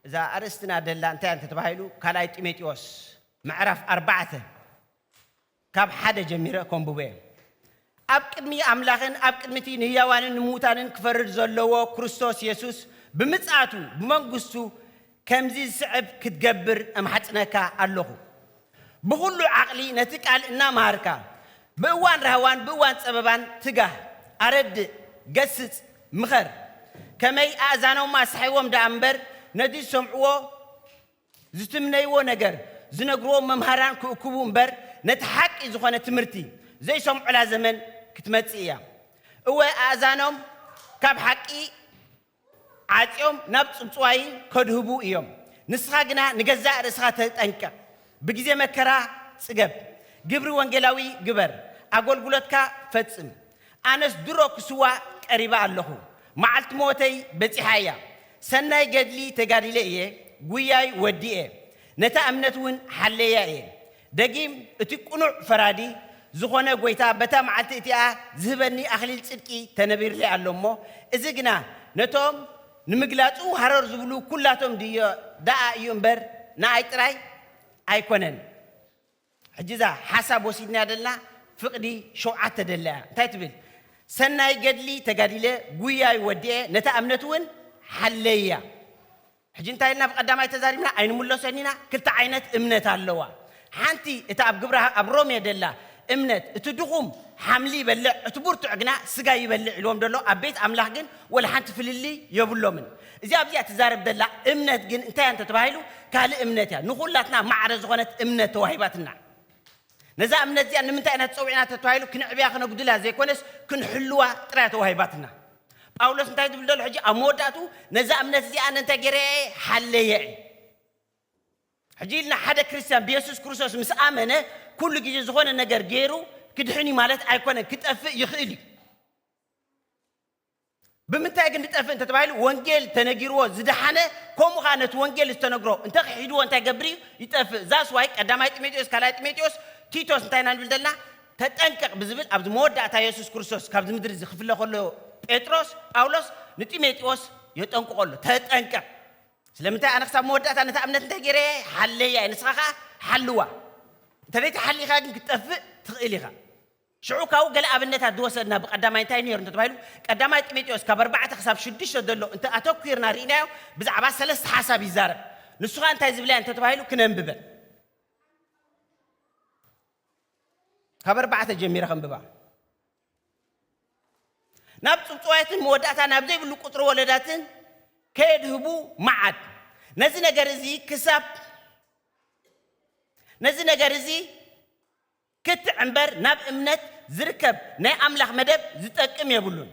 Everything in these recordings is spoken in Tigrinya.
እዛ ኣርእስትና ደላ እንታይ እንተ ተባሂሉ ካልኣይ ጢሞጢዎስ ምዕራፍ ኣርባዕተ ካብ ሓደ ጀሚረ ከንብቦ እየ ኣብ ቅድሚ ኣምላኽን ኣብ ቅድሚቲ ንህያዋንን ንምዉታንን ክፈርድ ዘለዎ ክርስቶስ የሱስ ብምጽኣቱ ብመንግስቱ ከምዚ ዝስዕብ ክትገብር እምሓጽነካ ኣለኹ ብኹሉ ዓቕሊ ነቲ ቃል እናመሃርካ፣ ብእዋን ራህዋን ብእዋን ጸበባን ትጋህ፣ ኣረድእ፣ ገስጽ፣ ምኸር። ከመይ ኣእዛኖም ኣስሓይዎም ደኣ እምበር፣ ነቲ ዝሰምዕዎ ዝትምነይዎ ነገር፣ ዝነግርዎም መምሃራን ክእክቡ እምበር፣ ነቲ ሓቂ ዝኾነ ትምህርቲ ዘይሰምዑላ ዘመን ክትመጽእ እያ። እወ ኣእዛኖም ካብ ሓቂ ዓጽዮም ናብ ጽውጽዋይ ከድህቡ ኢዮም። ንስኻ ግና ንገዛእ ርእስኻ ተጠንቀቕ። ብግዜ መከራ ጽገብ። ግብሪ ወንጌላዊ ግበር። ኣጎልጉሎትካ ፈጽም። ኣነስ ድሮ ክስዋእ ቀሪበ ኣለኹ። መዓልቲ ሞተይ በጺሓ ኢያ። ሰናይ ገድሊ ተጋዲለ ኢየ፣ ጉያይ ወዲኤ፣ ነታ እምነት እውን ሓለያ ኢየ። ደጊም እቲ ቅኑዕ ፈራዲ ዝኾነ ጐይታ በታ መዓልቲ እቲኣ ዚህበኒ ኣኽሊል ጽድቂ ተነቢርሊ ኣሎ እሞ፣ እዚ ግና ነቶም ንምግላጹ ሃረር ዝብሉ ኵላቶም ድዮ ደኣ እዩ እምበር፣ ንኣይ ጥራይ ኣይኰነን። ሕጂ እዛ ሓሳብ ወሲድና ደልና ፍቕዲ ሸውዓተ ደለያ እንታይ ትብል? ሰናይ ገድሊ ተጋዲለ፣ ጕያይ ወዲኤ፣ ነታ እምነትውን ሓለያ። ሕጂ እንታይ ኢልና ብቀዳማይ ተዛሪብና ኣይንምሎሶን ኢና ክልተ ዓይነት እምነት ኣለዋ ሓንቲ እታ ኣብ ግብረ ኣብ ሮሜ ደላ እምነት እቲ ድኹም ሓምሊ ይበልዕ እቲ ቡርቱዕ ግና ስጋ ይበልዕ ኢልዎም ደሎ ኣብ ቤት ኣምላኽ ግን ወላ ሓንቲ ፍልልይ የብሎምን እዚኣ ኣብዚኣ ትዛረብ ደላ እምነት ግን እንታይ እያ እንተ ተባሂሉ ካልእ እምነት እያ ንኹላትና ማዕረ ዝኾነት እምነት ተዋሂባትና ነዛ እምነት እዚኣ ንምንታይ ኢና ተጸዊዕና ተተባሂሉ ክነዕብያ ክነጉድላ ዘይኮነስ ክንሕልዋ ጥራይ እያ ተዋሂባትና። ጳውሎስ እንታይ ዝብል ዘሎ ሕጂ ኣብ መወዳእትኡ ነዛ እምነት እዚኣ ኣነ እንታይ ገይረያ እየ ሓለየ እየ። ሕጂ ኢልና ሓደ ክርስትያን ብየሱስ ክርስቶስ ምስ ኣመነ ኩሉ ግዜ ዝኾነ ነገር ገይሩ ክድሕን እዩ ማለት ኣይኮነን ክጠፍእ ይኽእል እዩ። ብምንታይ ግን ድጠፍእ እንተ ተባሂሉ ወንጌል ተነጊርዎ ዝደሓነ ከምኡ ከኣ ነቲ ወንጌል ዝተነግሮ እንተ ክሒድዎ እንታይ ገብር እዩ ይጠፍእ ዛስ ዋይ ቀዳማይ ጢሞቴዎስ ካልኣይ ጢሞቴዎስ ቲቶስ እንታይ ኢና ንብል ዘለና ተጠንቀቕ ብዝብል ኣብዚ መወዳእታ የሱስ ክርስቶስ ካብዚ ምድሪ እዚ ክፍለ ከሎ ጴጥሮስ ጳውሎስ ንጢሞቴዎስ የጠንቅቖ ኣሎ ተጠንቀቕ ስለምንታይ ኣነ ክሳብ መወዳእታ ነታ እምነት እንታይ ገይረ ሓለያ ንስኻ ከዓ ሓልዋ እንተ ዘይተሓሊኻ ግን ክትጠፍእ ትኽእል ኢኻ ሽዑ ካብኡ ገለ ኣብነታት ዝወሰድና ብቀዳማይ እንታይ ነይሩ እንተተባሂሉ ቀዳማይ ጢሞቴዎስ ካብ ኣርባዕተ ክሳብ ሽዱሽተ ዘሎ እንተ ኣተኲርና ርኢናዮ ብዛዕባ ሰለስተ ሓሳብ ይዛረብ ንሱ ከኣ እንታይ ዝብላ እየን እንተተባሂሉ ክነንብበን ካብ ኣርባዕተ ጀሚረ ከንብባ ናብ ጽብጽዋያትን መወዳእታ ናብ ዘይብሉ ቁጽሪ ወለዳትን ከየድህቡ መዓት ነዚ ነገር እዚ ክሳብ ነዚ ነገር እዚ ክትዕ እምበር ናብ እምነት ዝርከብ ናይ ኣምላኽ መደብ ዝጠቅም የብሉን።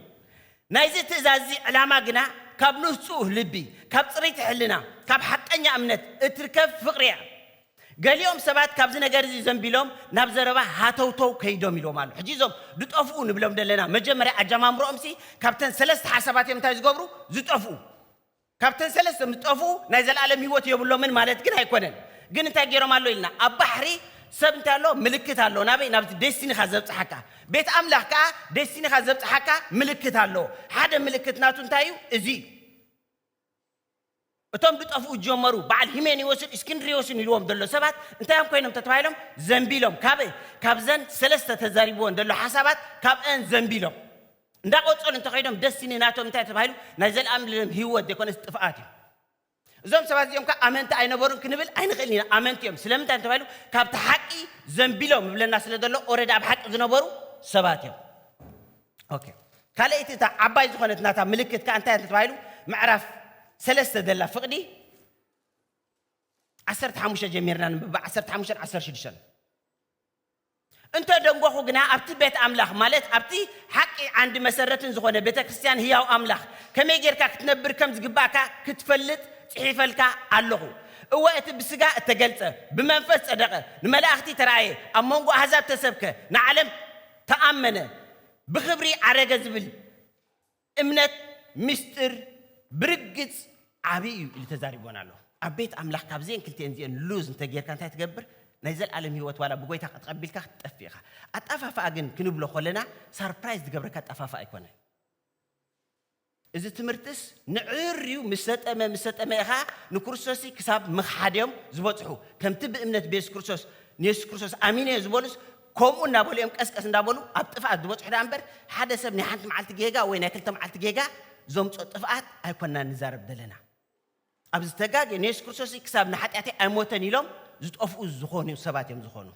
ናይዚ ትእዛዝዚ ዕላማ ግና ካብ ንህጹህ ልቢ፣ ካብ ጽርይቲ ሕልና፣ ካብ ሓቀኛ እምነት እትርከብ ፍቕሪ እያ። ገሊኦም ሰባት ካብዚ ነገርዚ ዘንቢሎም ናብ ዘረባ ሃተውተው ከይዶም ኢልዎም ኣሎ። ሕጂ እዞም ድጠፍኡ ንብሎም ደለና መጀመርያ ኣጀማምርኦምሲ ካብተን ሰለስተ ሓሳባት እዮም እንታይ ዝገብሩ ዝጠፍኡ። ካብተን ሰለስተ ምስ ጠፍኡ ናይ ዘልኣለም ህይወት የብሎምን ማለት ግን ኣይኮነን ግን እንታይ ጌሮም ኣሎ ኢልና ኣብ ባሕሪ ሰብ እንታይ ኣሎ ምልክት ኣሎ ናበይ ናብቲ ዴስቲኒኻ ዘብጽሓካ ቤት ኣምላኽ ከኣ ዴስቲኒኻ ዘብጽሓካ ምልክት ኣሎ ሓደ ምልክት ናቱ እንታይ እዩ እዚ እዩ እቶም ድጠፍኡ ጀመሩ በዓል ሂሜኒዎስን እስክንድሪዎስን ኢልዎም ዘሎ ሰባት እንታይ እዮም ኮይኖም ተተባሂሎም ዘንቢሎም ካብ ካብዘን ሰለስተ ተዛሪብዎን ዘሎ ሓሳባት ካብአን ዘንቢሎም እንዳቆጸሉ እንተኸይዶም ደስቲኒ ናቶም እንታይ ተባሂሉ ናይ ዘለኣምልለም ህይወት ዘይኮነስ ጥፍኣት እዩ። እዞም ሰባት እዚኦም ከ ኣመንቲ ኣይነበሩን ክንብል ኣይንኽእልን ኢና። ኣመንቲ እዮም። ስለምንታይ እንተባሂሉ ካብቲ ሓቂ ዘንቢሎም ይብለና ስለ ዘሎ ኦረዲ ኣብ ሓቂ ዝነበሩ ሰባት እዮም። ኦኬ ካልኣይቲ እታ ዓባይ ዝኾነት ናታ ምልክት ከ እንታይ እንተተባሂሉ ምዕራፍ ሰለስተ ዘላ ፍቕዲ ዓሰርተ ሓሙሽተ ጀሚርና ንብባ ዓሰርተ ሓሙሽተን ዓሰርተ ሽዱሽተን እንተ ደንጐኹ ግና፣ ኣብቲ ቤት ኣምላኽ፣ ማለት ኣብቲ ሓቂ ዓንዲ መሰረትን ዝኾነ ቤተ ክርስትያን ህያው ኣምላኽ፣ ከመይ ጌርካ ክትነብር ከም ዝግብኣካ ክትፈልጥ ጽሒፈልካ ኣሎኹ። እወ፣ እቲ ብስጋ እተገልጸ፣ ብመንፈስ ጸደቐ፣ ንመላእኽቲ ተራእየ፣ ኣብ መንጎ ኣህዛብ ተሰብከ፣ ንዓለም ተኣመነ፣ ብኽብሪ ዓረገ ዝብል፣ እምነት ምስጢር ብርግጽ ዓቢ እዩ ኢሉ ተዛሪቡወን ኣሎ። ኣብ ቤት ኣምላኽ ካብዘን ክልቲኤን እዚኤን ሉዝ እንተ ጌርካ እንታይ ትገብር? ናይ ዘልኣለም ህይወት ዋላ ብጎይታ ከተቐቢልካ ክትጠፍእ ኢኻ። ኣጣፋፍኣ ግን ክንብሎ ኮለና ሳርፕራይዝ ዝገብረካ ኣጣፋፍኣ ኣይኮነን። እዚ ትምህርትስ ንዕርዩ ምስ ሰጠመ ምስ ሰጠመ ኢኻ ንክርስቶስ ክሳብ ምኽሓድ እዮም ዝበጽሑ። ከምቲ ብእምነት ብየሱስ ክርስቶስ ንየሱስ ክርስቶስ ኣሚነ እየ ዝበሉስ ከምኡ እናበሉ እዮም ቀስቀስ እንዳበሉ ኣብ ጥፍኣት ዝበፅሑ ደኣ እምበር ሓደ ሰብ ናይ ሓንቲ መዓልቲ ጌጋ ወይ ናይ ክልተ መዓልቲ ጌጋ ዘምፅኦ ጥፍኣት ኣይኮናን ንዛረብ ዘለና። ኣብ ዝተጋግየ ንየሱስ ክርስቶስ ክሳብ ንሓጢኣተይ ኣይሞተን ኢሎም ዝጠፍኡ ዝኾኑ ሰባት እዮም ዝኾኑ።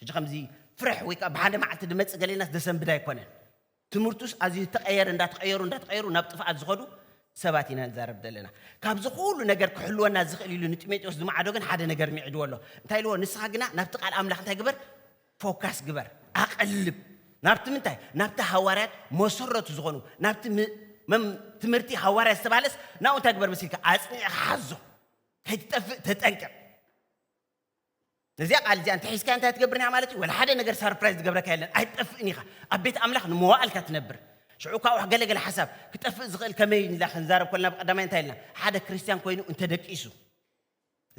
ሕጂ ከምዚ ፍርሕ ወይ ከዓ ብሓደ መዓልቲ ድመፅእ ገሌናስ ደሰንብድ ኣይኮነን። ትምህርቱስ ኣዝዩ ተቐየረ እንዳተቐየሩ እንዳተቐየሩ ናብ ጥፍኣት ዝኸዱ ሰባት ኢና ንዛረብ ዘለና ካብዚ ኩሉ ነገር ክሕልወና ዝኽእል ኢሉ ንጢሞቴዎስ ዝመዓዶ ግን ሓደ ነገር ሚዒድዎ ኣሎ እንታይ ኢልዎ ንስኻ ግና ናብቲ ቃል ኣምላኽ እንታይ ግበር ፎካስ ግበር ኣቐልብ ናብቲ ምንታይ ናብቲ ሃዋርያት መሰረቱ ዝኾኑ ናብቲ ትምህርቲ ሃዋርያ ዝተባሃለስ ናብኡ እንታይ ግበር መሲልካ ኣፅኒዕኻ ሓዞ ከይትጠፍእ ተጠንቀቕ ነዚኣ ቃል እዚኣ እንተሒዝካያ እንታይ ትገብር ኒኻ ማለት እዩ ወላ ሓደ ነገር ሳርፕራይዝ ዝገብረካ የለን ኣይትጠፍእን ኢኻ ኣብ ቤት ኣምላኽ ንመዋእል እካ ትነብር ሽዑ እኳ ዋሕ ገለ ገለ ሓሳብ ክጠፍእ ዝኽእል ከመይ ንላ ክንዛረብ ኮልና ብቀዳማይ እንታይ ኢልና ሓደ ክርስትያን ኮይኑ እንተ ደቂሱ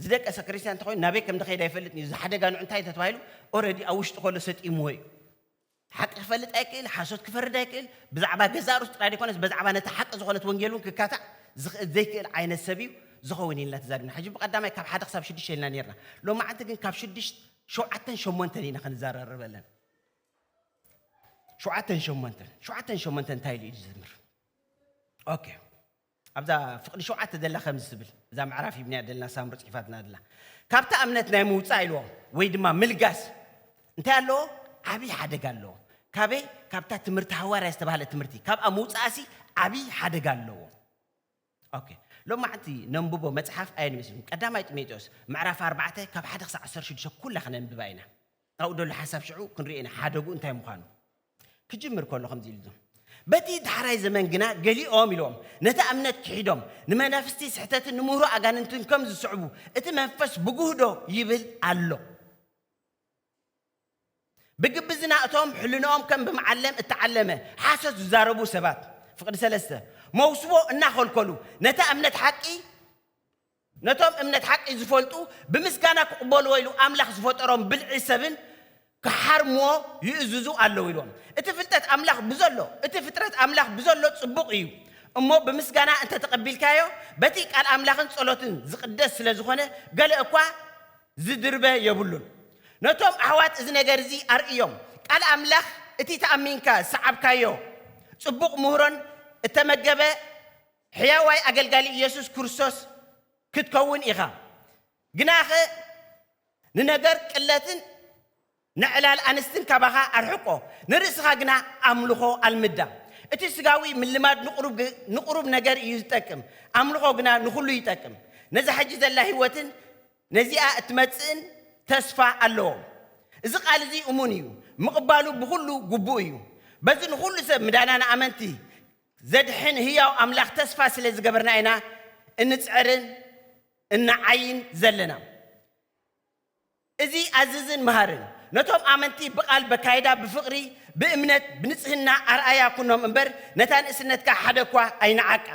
ዝደቀሰ ክርስትያን እንተኮይኑ ናበይ ከም ዝኸይድ ኣይፈልጥን እዩ ዝሓደጋ ንዑ እንታይ እንተተባሂሉ ኦረዲ ኣብ ውሽጢ ከሎ ሰጢምዎ እዩ ሓቂ ክፈልጥ ኣይክእል፣ ሓሶት ክፈርድ ኣይክእል፣ ብዛዕባ ገዛእ ርእሱ ጥራይ ዘይኮነስ በዛዕባ ነታ ሓቂ ዝኾነት ወንጌል እውን ክካታዕ ዝኽእል ዘይክእል ዓይነት ሰብ እዩ ዝኸውን ኢልና ተዛሪብና። ሕጂ ብቀዳማይ ካብ ሓደ ክሳብ ሽዱሽተ ኢልና ኔርና። ሎማዓንቲ ግን ካብ ሽዱሽት ሸውዓተን ሸሞንተን ኢና ክንዛራረበለን። ሸውዓተን ሸሞንተን ሸውዓተን ሸሞንተን እንታይ ኢሉ እዩ ዝዝምር? ኦኬ ኣብዛ ፍቕዲ ሸውዓተ ዘላ ከምዚ ትብል፣ እዛ ምዕራፍ ሂብናያ ደለና ሳምሪ ጽሒፋትና ደላ። ካብታ እምነት ናይ ምውጻእ ኢልዎ ወይ ድማ ምልጋስ እንታይ ኣለዎ? ዓቢ ሓደጋ ኣለዎ። ካበይ? ካብታ ትምህርቲ ሃዋርያ ዝተባህለት ትምህርቲ ካብኣ ምውጻእሲ ዓቢ ሓደጋ ኣለዎ። ኦኬ ሎማዕንቲ ነንብቦ መጽሓፍ ኣየን ይመስልኩም? ቀዳማይ ጢሞቴዎስ ምዕራፍ ኣርባዕተ ካብ ሓደ ክሳዕ ዓሰርተ ሽዱሽተ ኩላ ክነንብባ ኢና። ካብኡ ደሎ ሓሳብ ሽዑ ክንሪኦ ኢና ሓደጉ እንታይ ምዃኑ ክጅምር ከሎ ከምዚ ኢሉ ዞም በቲ ዳሕራይ ዘመን ግና ገሊኦም ኢሎም ነቲ እምነት ክሒዶም ንመናፍስቲ ስሕተትን ንምህሮ ኣጋንንትን ከም ዝስዕቡ እቲ መንፈስ ብጉህዶ ይብል ኣሎ ብግብዝና እቶም ሕልንኦም ከም ብምዓለም እተዓለመ ሓሶት ዝዛረቡ ሰባት ፍቅዲ ሰለስተ መውስቦ እናኸልከሉ ነታ እምነት ሓቂ ነቶም እምነት ሓቂ ዚፈልጡ ብምስጋና ኪቕበልዎ ኢሉ ኣምላኽ ዝፈጠሮም ብልዒ ሰብን ኪሓርምዎ ይእዝዙ ኣለዉ ኢልዎም። እቲ ፍልጠት ኣምላኽ ብዘሎ፣ እቲ ፍጥረት ኣምላኽ ብዘሎ ጽቡቕ እዩ እሞ ብምስጋና እንተ ተቐቢልካዮ በቲ ቃል ኣምላኽን ጸሎትን ዚቕደስ ስለ ዝኾነ ገለ እኳ ዚድርበ የብሉን። ነቶም ኣሕዋት እዚ ነገር እዚ ኣርእዮም። ቃል ኣምላኽ እቲ ተኣሚንካ ዝሰዓብካዮ ጽቡቕ ምህሮን እተመገበ ሕያዋይ ኣገልጋሊ ኢየሱስ ክርስቶስ ክትከውን ኢኻ። ግናኸ ንነገር ቅለትን ንዕላል ኣንስትን ካባኻ ኣርሕቆ፣ ንርእስኻ ግና ኣምልኾ ኣልምዳ። እቲ ስጋዊ ምልማድ ንቕሩብ ነገር እዩ ዝጠቅም፣ ኣምልኾ ግና ንኹሉ ይጠቅም። ነዛ ሕጂ ዘላ ህይወትን ነዚኣ እትመጽእን ተስፋ ኣለዎም። እዚ ቃል እዚ እሙን እዩ፣ ምቕባሉ ብኹሉ ግቡእ እዩ። በዚ ንኹሉ ሰብ ምዳና ንኣመንቲ ዘድሕን ህያው ኣምላኽ ተስፋ ስለ ዝገበርና ኢና እንጽዕርን እንዓይን ዘለና። እዚ ኣዝዝን መሃርን ነቶም ኣመንቲ ብቃል በካይዳ ብፍቅሪ ብእምነት ብንጽህና ኣርኣያ ኩኖም እምበር ነታ ንእስነትካ ሓደ እኳ ኣይንዓቃ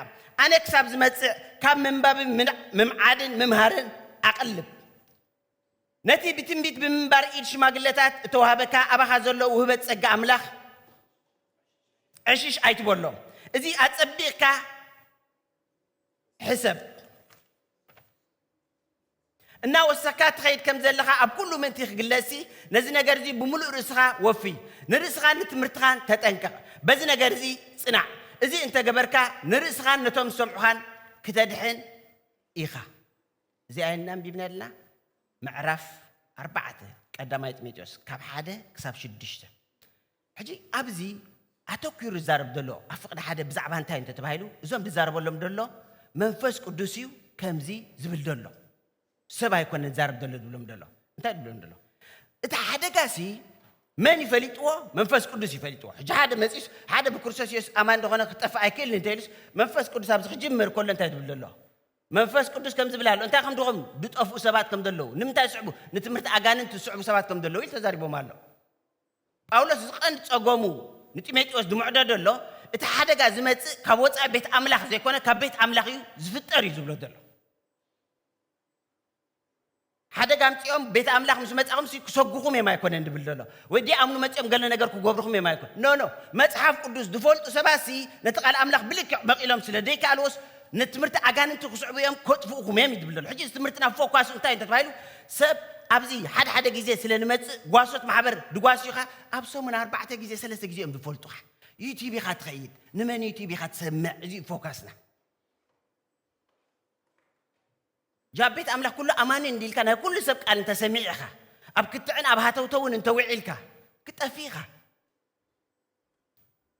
ኣነ ክሳብ ዝመጽእ ካብ ምንባብን ምምዓድን ምምሃርን ኣቅልብ ነቲ ብትንቢት ብምንባር ኢድ ሽማግለታት እተዋህበካ ኣባኻ ዘሎ ውህበት ጸጋ ኣምላኽ ዕሽሽ ኣይትበሎም እዚ ኣጸቢቕካ ሕሰብ እናወሰካ ትኸይድ ከም ዘለኻ ኣብ ኩሉ ምእንቲ ክግለጽሲ ነዚ ነገር እዚ ብምሉእ ርእስኻ ወፊ ንርእስኻን ንትምህርትኻን ተጠንቀቕ በዚ ነገር እዚ ጽናዕ እዚ እንተገበርካ ንርእስኻን ነቶም ዝሰምዑኻን ክተድሕን ኢኻ እዚኣ እና ኣንቢብና ኣለና ምዕራፍ ኣርባዕተ ቀዳማይ ጢሞቴዎስ ካብ ሓደ ክሳብ ሽዱሽተ ሕጂ ኣብዚ ኣተኲሩ ዝዛረብ ዘሎ ኣብ ፍቕዲ ሓደ ብዛዕባ እንታይ እንተ ተባሂሉ እዞም ዝዛረበሎም ዘሎ መንፈስ ቅዱስ እዩ ከምዚ ዝብል ዘሎ ሰብ ኣይኮነን ዝዛረብ ዘሎ ዝብሎም ዘሎ እንታይ ዝብሎም ዘሎ እቲ ሓደጋሲ መን ይፈሊጥዎ መንፈስ ቅዱስ ይፈሊጥዎ ሕጂ ሓደ መጺስ ሓደ ብክርስቶስ የሱስ ኣማን እንደኾነ ክጠፍእ ኣይክእልን እንተኢሉስ መንፈስ ቅዱስ ኣብዚ ክጅምር ከሎ እንታይ ዝብል ዘሎ መንፈስ ቅዱስ ከም ዝብል ኣሎ እንታይ ከም ድኹም ዝጠፍኡ ሰባት ከም ዘለዉ ንምንታይ ዝስዕቡ ንትምህርቲ ኣጋንንቲ ዝስዕቡ ሰባት ከም ዘለዉ ኢሉ ተዛሪቦም ኣሎ ጳውሎስ እዚ ቀንዲ ጸገሙ ንጢሞቴዎስ ዝምዕዶ ዘሎ እቲ ሓደጋ ዝመጽእ ካብ ወጻኢ ቤት ኣምላኽ ዘይኮነ ካብ ቤት ኣምላኽ እዩ ዝፍጠር እዩ ዝብሎ ዘሎ። ሓደጋ ኣምጺኦም ቤት ኣምላኽ ምስ መጻኹም ሲ ክሰጉኹም እዮም ኣይኮነን ድብል ዘሎ ወይ ዲ ኣምኑ መጺኦም ገለ ነገር ክገብርኹም እዮም ኣይኮነ ኖ ኖ መጽሓፍ ቅዱስ ዝፈልጡ ሰባት ሲ ነቲ ቃል ኣምላኽ ብልክዕ መቒሎም ስለ ዘይከኣልዎስ ንትምህርቲ ኣጋንንቲ ክስዕቡ እዮም ከጥፍኡኹም እዮም እዩ ዝብል ዘሎ ሕጂ እዚ ትምህርትና ፎኳሱ እንታይ እንተተባሂሉ ሰብ ኣብዚ ሓደ ሓደ ግዜ ስለ ንመጽእ ጓሶት ማሕበር ድጓሲኻ ኣብ ሰሙን ኣርባዕተ ግዜ ሰለስተ ግዜ እዮም ዝፈልጡኻ ዩቲብ ኢኻ ትኸይድ ንመን ዩቲብ ኢኻ ትሰምዕ እዚ ፎካስና ጃብ ቤት ኣምላኽ ኩሉ ኣማኒ እንዲልካ ናይ ኩሉ ሰብ ቃል እንተሰሚዕ ኢኻ ኣብ ክትዕን ኣብ ሃተውተውን እንተውዒልካ ክጠፊ ኢኻ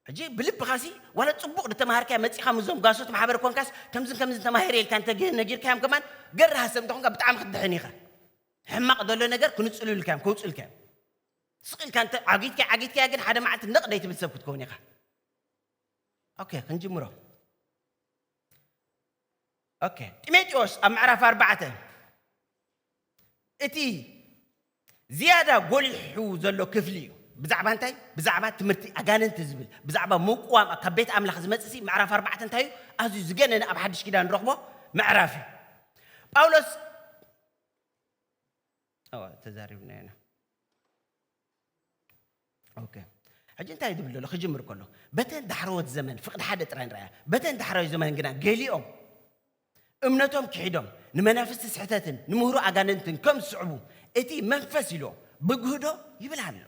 ሕጂ ብልብኻሲ ዋላ ጽቡቕ ድተማሃርካያ መጺኻ ምስዞም ጋሶት ማሕበር ኮንካስ ከምዝን ከምዝን ተማሂረ ኢልካ እንተ ነጊርካዮም ከማን ገር ሃሰብ እንተ ኮንካ ብጣዕሚ ክትድሕን ኢኻ ሕማቕ ዘሎ ነገር ክንጽሉልካ እዮም ከውጽልካ እዮም ስቕ ኢልካ እንተ ዓጊትካ ዓጊትካያ ግን ሓደ መዓልቲ ነቕ ደይትብል ሰብ ክትከውን ኢኻ ኦኬ ክንጅምሮ ጢሞቴዎስ ኣብ ምዕራፍ ኣርባዕተ እቲ ዝያዳ ጐሊሑ ዘሎ ክፍሊ እዩ። ብዛዕባ እንታይ? ብዛዕባ ትምህርቲ ኣጋንንቲ ዝብል ብዛዕባ ምቁዋም ካብ ቤት ኣምላኽ ዝመጽእሲ ምዕራፍ ኣርባዕተ እንታይ እዩ? ኣዝዩ ዝገነነ ኣብ ሓድሽ ኪዳን ንረኽቦ ምዕራፍ እዩ። ጳውሎስ ተዛሪብና ኢና። ኦኬ ሕጂ እንታይ ዝብል ዘሎ ክጅምር ከሎ በተን ዳሕረዎት ዘመን ፍቅዲ ሓደ ጥራይ ንረኣያ በተን ዳሕራዊ ዘመን ግና ገሊኦም እምነቶም ክሒዶም ንመናፍስቲ ስሕተትን ንምህሩ ኣጋንንትን ከም ዝስዕቡ እቲ መንፈስ ኢሎ ብግህዶ ይብል ኣሎ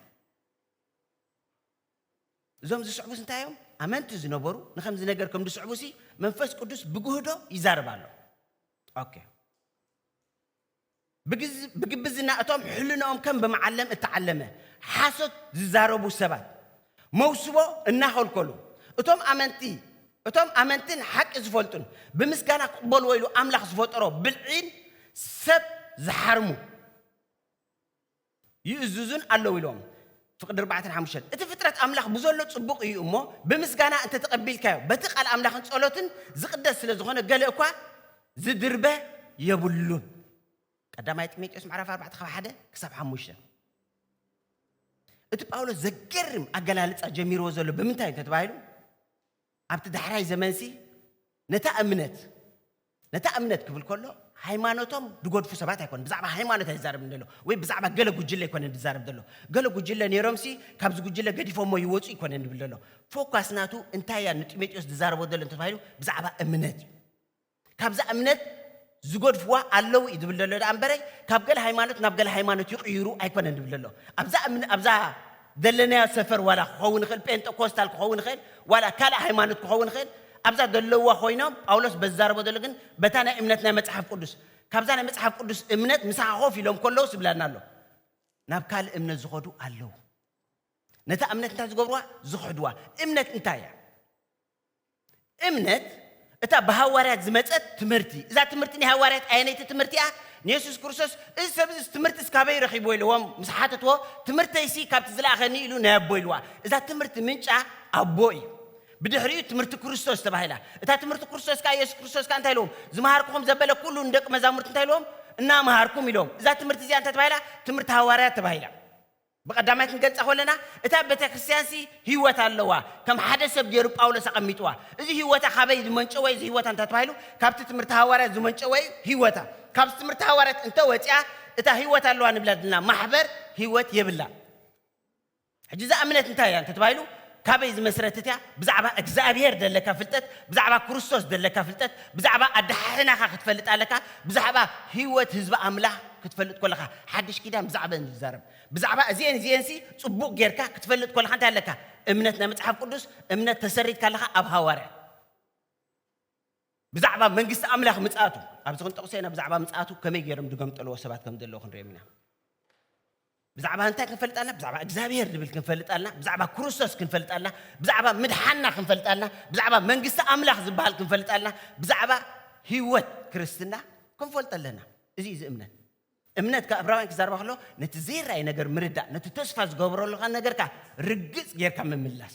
እዞም ዝስዕቡስ እንታይ እዮም ኣመንቲ ዝነበሩ ንከምዚ ነገር ከም ዝስዕቡ ሲ መንፈስ ቅዱስ ብግህዶ ይዛረብ ኣሎ ኦኬ ብግብዝና እቶም ሕልንኦም ከም ብመዓለም እተዓለመ ሓሶት ዝዛረቡ ሰባት መውስቦ እናኸልከሉ፣ እቶም ኣመንቲ እቶም ኣመንትን ሓቂ ዝፈልጡን ብምስጋና ክቕበልዎ ኢሉ ኣምላኽ ዝፈጠሮ ብልዒን ሰብ ዝሓርሙ፣ ይእዝዙን ኣለዉ ኢሎም። ፍቅዲ ኣርባዕተን ሓሙሽተን እቲ ፍጥረት ኣምላኽ ብዘሎ ጽቡቕ እዩ እሞ ብምስጋና እንተ ተቐቢልካዮ በቲ ቃል ኣምላኽን ጸሎትን ዝቕደስ ስለ ዝኾነ ገለ እኳ ዝድርበ የብሉን። ቀዳማይ ጢሞቴዎስ ምዕራፍ ኣርባዕተ ካብ ሓደ ክሳብ ሓሙሽተ እቲ ጳውሎስ ዘገርም ኣገላልጻ ጀሚርዎ ዘሎ ብምንታይ እዩ ተባሂሉ ኣብቲ ዳሕራይ ዘመንሲ ነታ እምነት፣ ነታ እምነት ክብል ከሎ ሃይማኖቶም ድጎድፉ ሰባት ኣይኮነን፣ ብዛዕባ ሃይማኖት ኣይዛረብን ዘሎ፣ ወይ ብዛዕባ ገለ ጉጅለ ኣይኮነን ድዛረብ ዘሎ፣ ገለ ጉጅለ ኔሮምሲ ካብዚ ጉጅለ ገዲፎሞ ይወጹ ኣይኮነን ድብል ዘሎ፣ ፎካስ ናቱ እንታይ እያ ንጢሞጢዎስ ድዛረቦ ዘሎ እንተተባሂሉ ብዛዕባ እምነት እዩ። ካብዛ እምነት ዝገድፍዋ ኣለው እዩ ዝብል ዘሎ ደኣ እምበረ ካብ ገለ ሃይማኖት ናብ ገለ ሃይማኖት ይቕይሩ ኣይኮነን ዝብል ዘሎ ኣብዛ ኣብዛ ዘለናዮ ሰፈር ዋላ ክኸውን ይኽእል ጴንጠኮስታል ክኸውን ይኽእል ዋላ ካልእ ሃይማኖት ክኸውን ይኽእል ኣብዛ ዘለዋ ኮይኖም ጳውሎስ በዛረቦ ዘሎ ግን በታ ናይ እምነት ናይ መጽሓፍ ቅዱስ ካብዛ ናይ መጽሓፍ ቅዱስ እምነት ምሳኻ ኮፍ ኢሎም ከለዉ ስብላና ኣሎ ናብ ካልእ እምነት ዝኸዱ ኣለዉ ነታ እምነት እንታይ ዝገብርዋ ዝኽሕድዋ እምነት እንታይ እያ እምነት እታ ብሃዋርያት ዝመጸት ትምህርቲ እዛ ትምህርቲ ናይ ሃዋርያት ኣየነይቲ ትምህርቲ እያ ንየሱስ ክርስቶስ እዚ ሰብ እዚ ትምህርቲ እስካበይ ረኺብዎ ኢልዎም ምስ ሓተትዎ ትምህርተይሲ ካብቲ ዝለኣኸኒ ኢሉ ናይ ኣቦ ኢልዋ እዛ ትምህርቲ ምንጫ ኣቦ እዩ ብድሕሪኡ ትምህርቲ ክርስቶስ ተባሂላ እታ ትምህርቲ ክርስቶስ ከዓ የሱስ ክርስቶስ ከዓ እንታይ ኢልዎም ዝመሃርኩኹም ዘበለ ኩሉ ንደቂ መዛሙርቲ እንታይ ኢልዎም እናመሃርኩም ኢሎም እዛ ትምህርቲ እዚኣ እንታይ ተባሂላ ትምህርቲ ሃዋርያት ተባሂላ ብቐዳማይ ክንገልጻ ከለና እታ ቤተክርስትያንሲ ህይወት ኣለዋ፣ ከም ሓደ ሰብ ገይሩ ጳውሎስ ኣቐሚጥዋ። እዚ ህይወታ ካበይ ዝመንጨወ እዩ እዚ ህይወታ እንተ ተባሂሉ ካብቲ ትምህርቲ ሃዋርያት ዝመንጨወ እዩ ህይወታ። ካብቲ ትምህርቲ ሃዋርያት እንተ ወጺኣ እታ ህይወት ኣለዋ ንብላ ዘለና ማሕበር ህይወት የብላን። ሕጂ እዛ እምነት እንታይ እያ እንተ ተባሂሉ ካበይ ዝመስረትት እያ? ብዛዕባ እግዝኣብሄር ዘለካ ፍልጠት፣ ብዛዕባ ክርስቶስ ዘለካ ፍልጠት፣ ብዛዕባ ኣደሓሕናኻ ክትፈልጥ ኣለካ፣ ብዛዕባ ህይወት ህዝቢ ኣምላኽ ክትፈልጥ ከለኻ፣ ሓድሽ ኪዳን ብዛዕበን እዩ ዝዛረብ፣ ብዛዕባ እዚኤን እዚኤንሲ ጽቡቕ ጌርካ ክትፈልጥ ከለኻ እንታይ ኣለካ? እምነት ናይ መጽሓፍ ቅዱስ እምነት ተሰሪትካ ኣለኻ ኣብ ሃዋርያት። ብዛዕባ መንግስቲ ኣምላኽ ምጽኣቱ ኣብዚ ክንጠቕሶ ኢና፣ ብዛዕባ ምጽኣቱ ከመይ ገይሮም ዝገምጠልዎ ሰባት ከም ዘለዉ ክንሪኦም ኢና። ብዛዕባ እንታይ ክንፈልጥ ኣለና? ብዛዕባ እግዚኣብሄር ንብል ክንፈልጥ ኣለና፣ ብዛዕባ ክርስቶስ ክንፈልጥ ኣለና፣ ብዛዕባ ምድሓንና ክንፈልጥ ኣለና፣ ብዛዕባ መንግስቲ ኣምላኽ ዝበሃል ክንፈልጥ ኣለና፣ ብዛዕባ ህይወት ክርስትና ክንፈልጥ ኣለና። እዚ እዩ እዚ እምነት። እምነት ካብ ዕብራውያን ክዛረባ ከሎ ነቲ ዘይረኣይ ነገር ምርዳእ፣ ነቲ ተስፋ ዝገብረሉካ ነገርካ ርግጽ ጌርካ ምምላስ።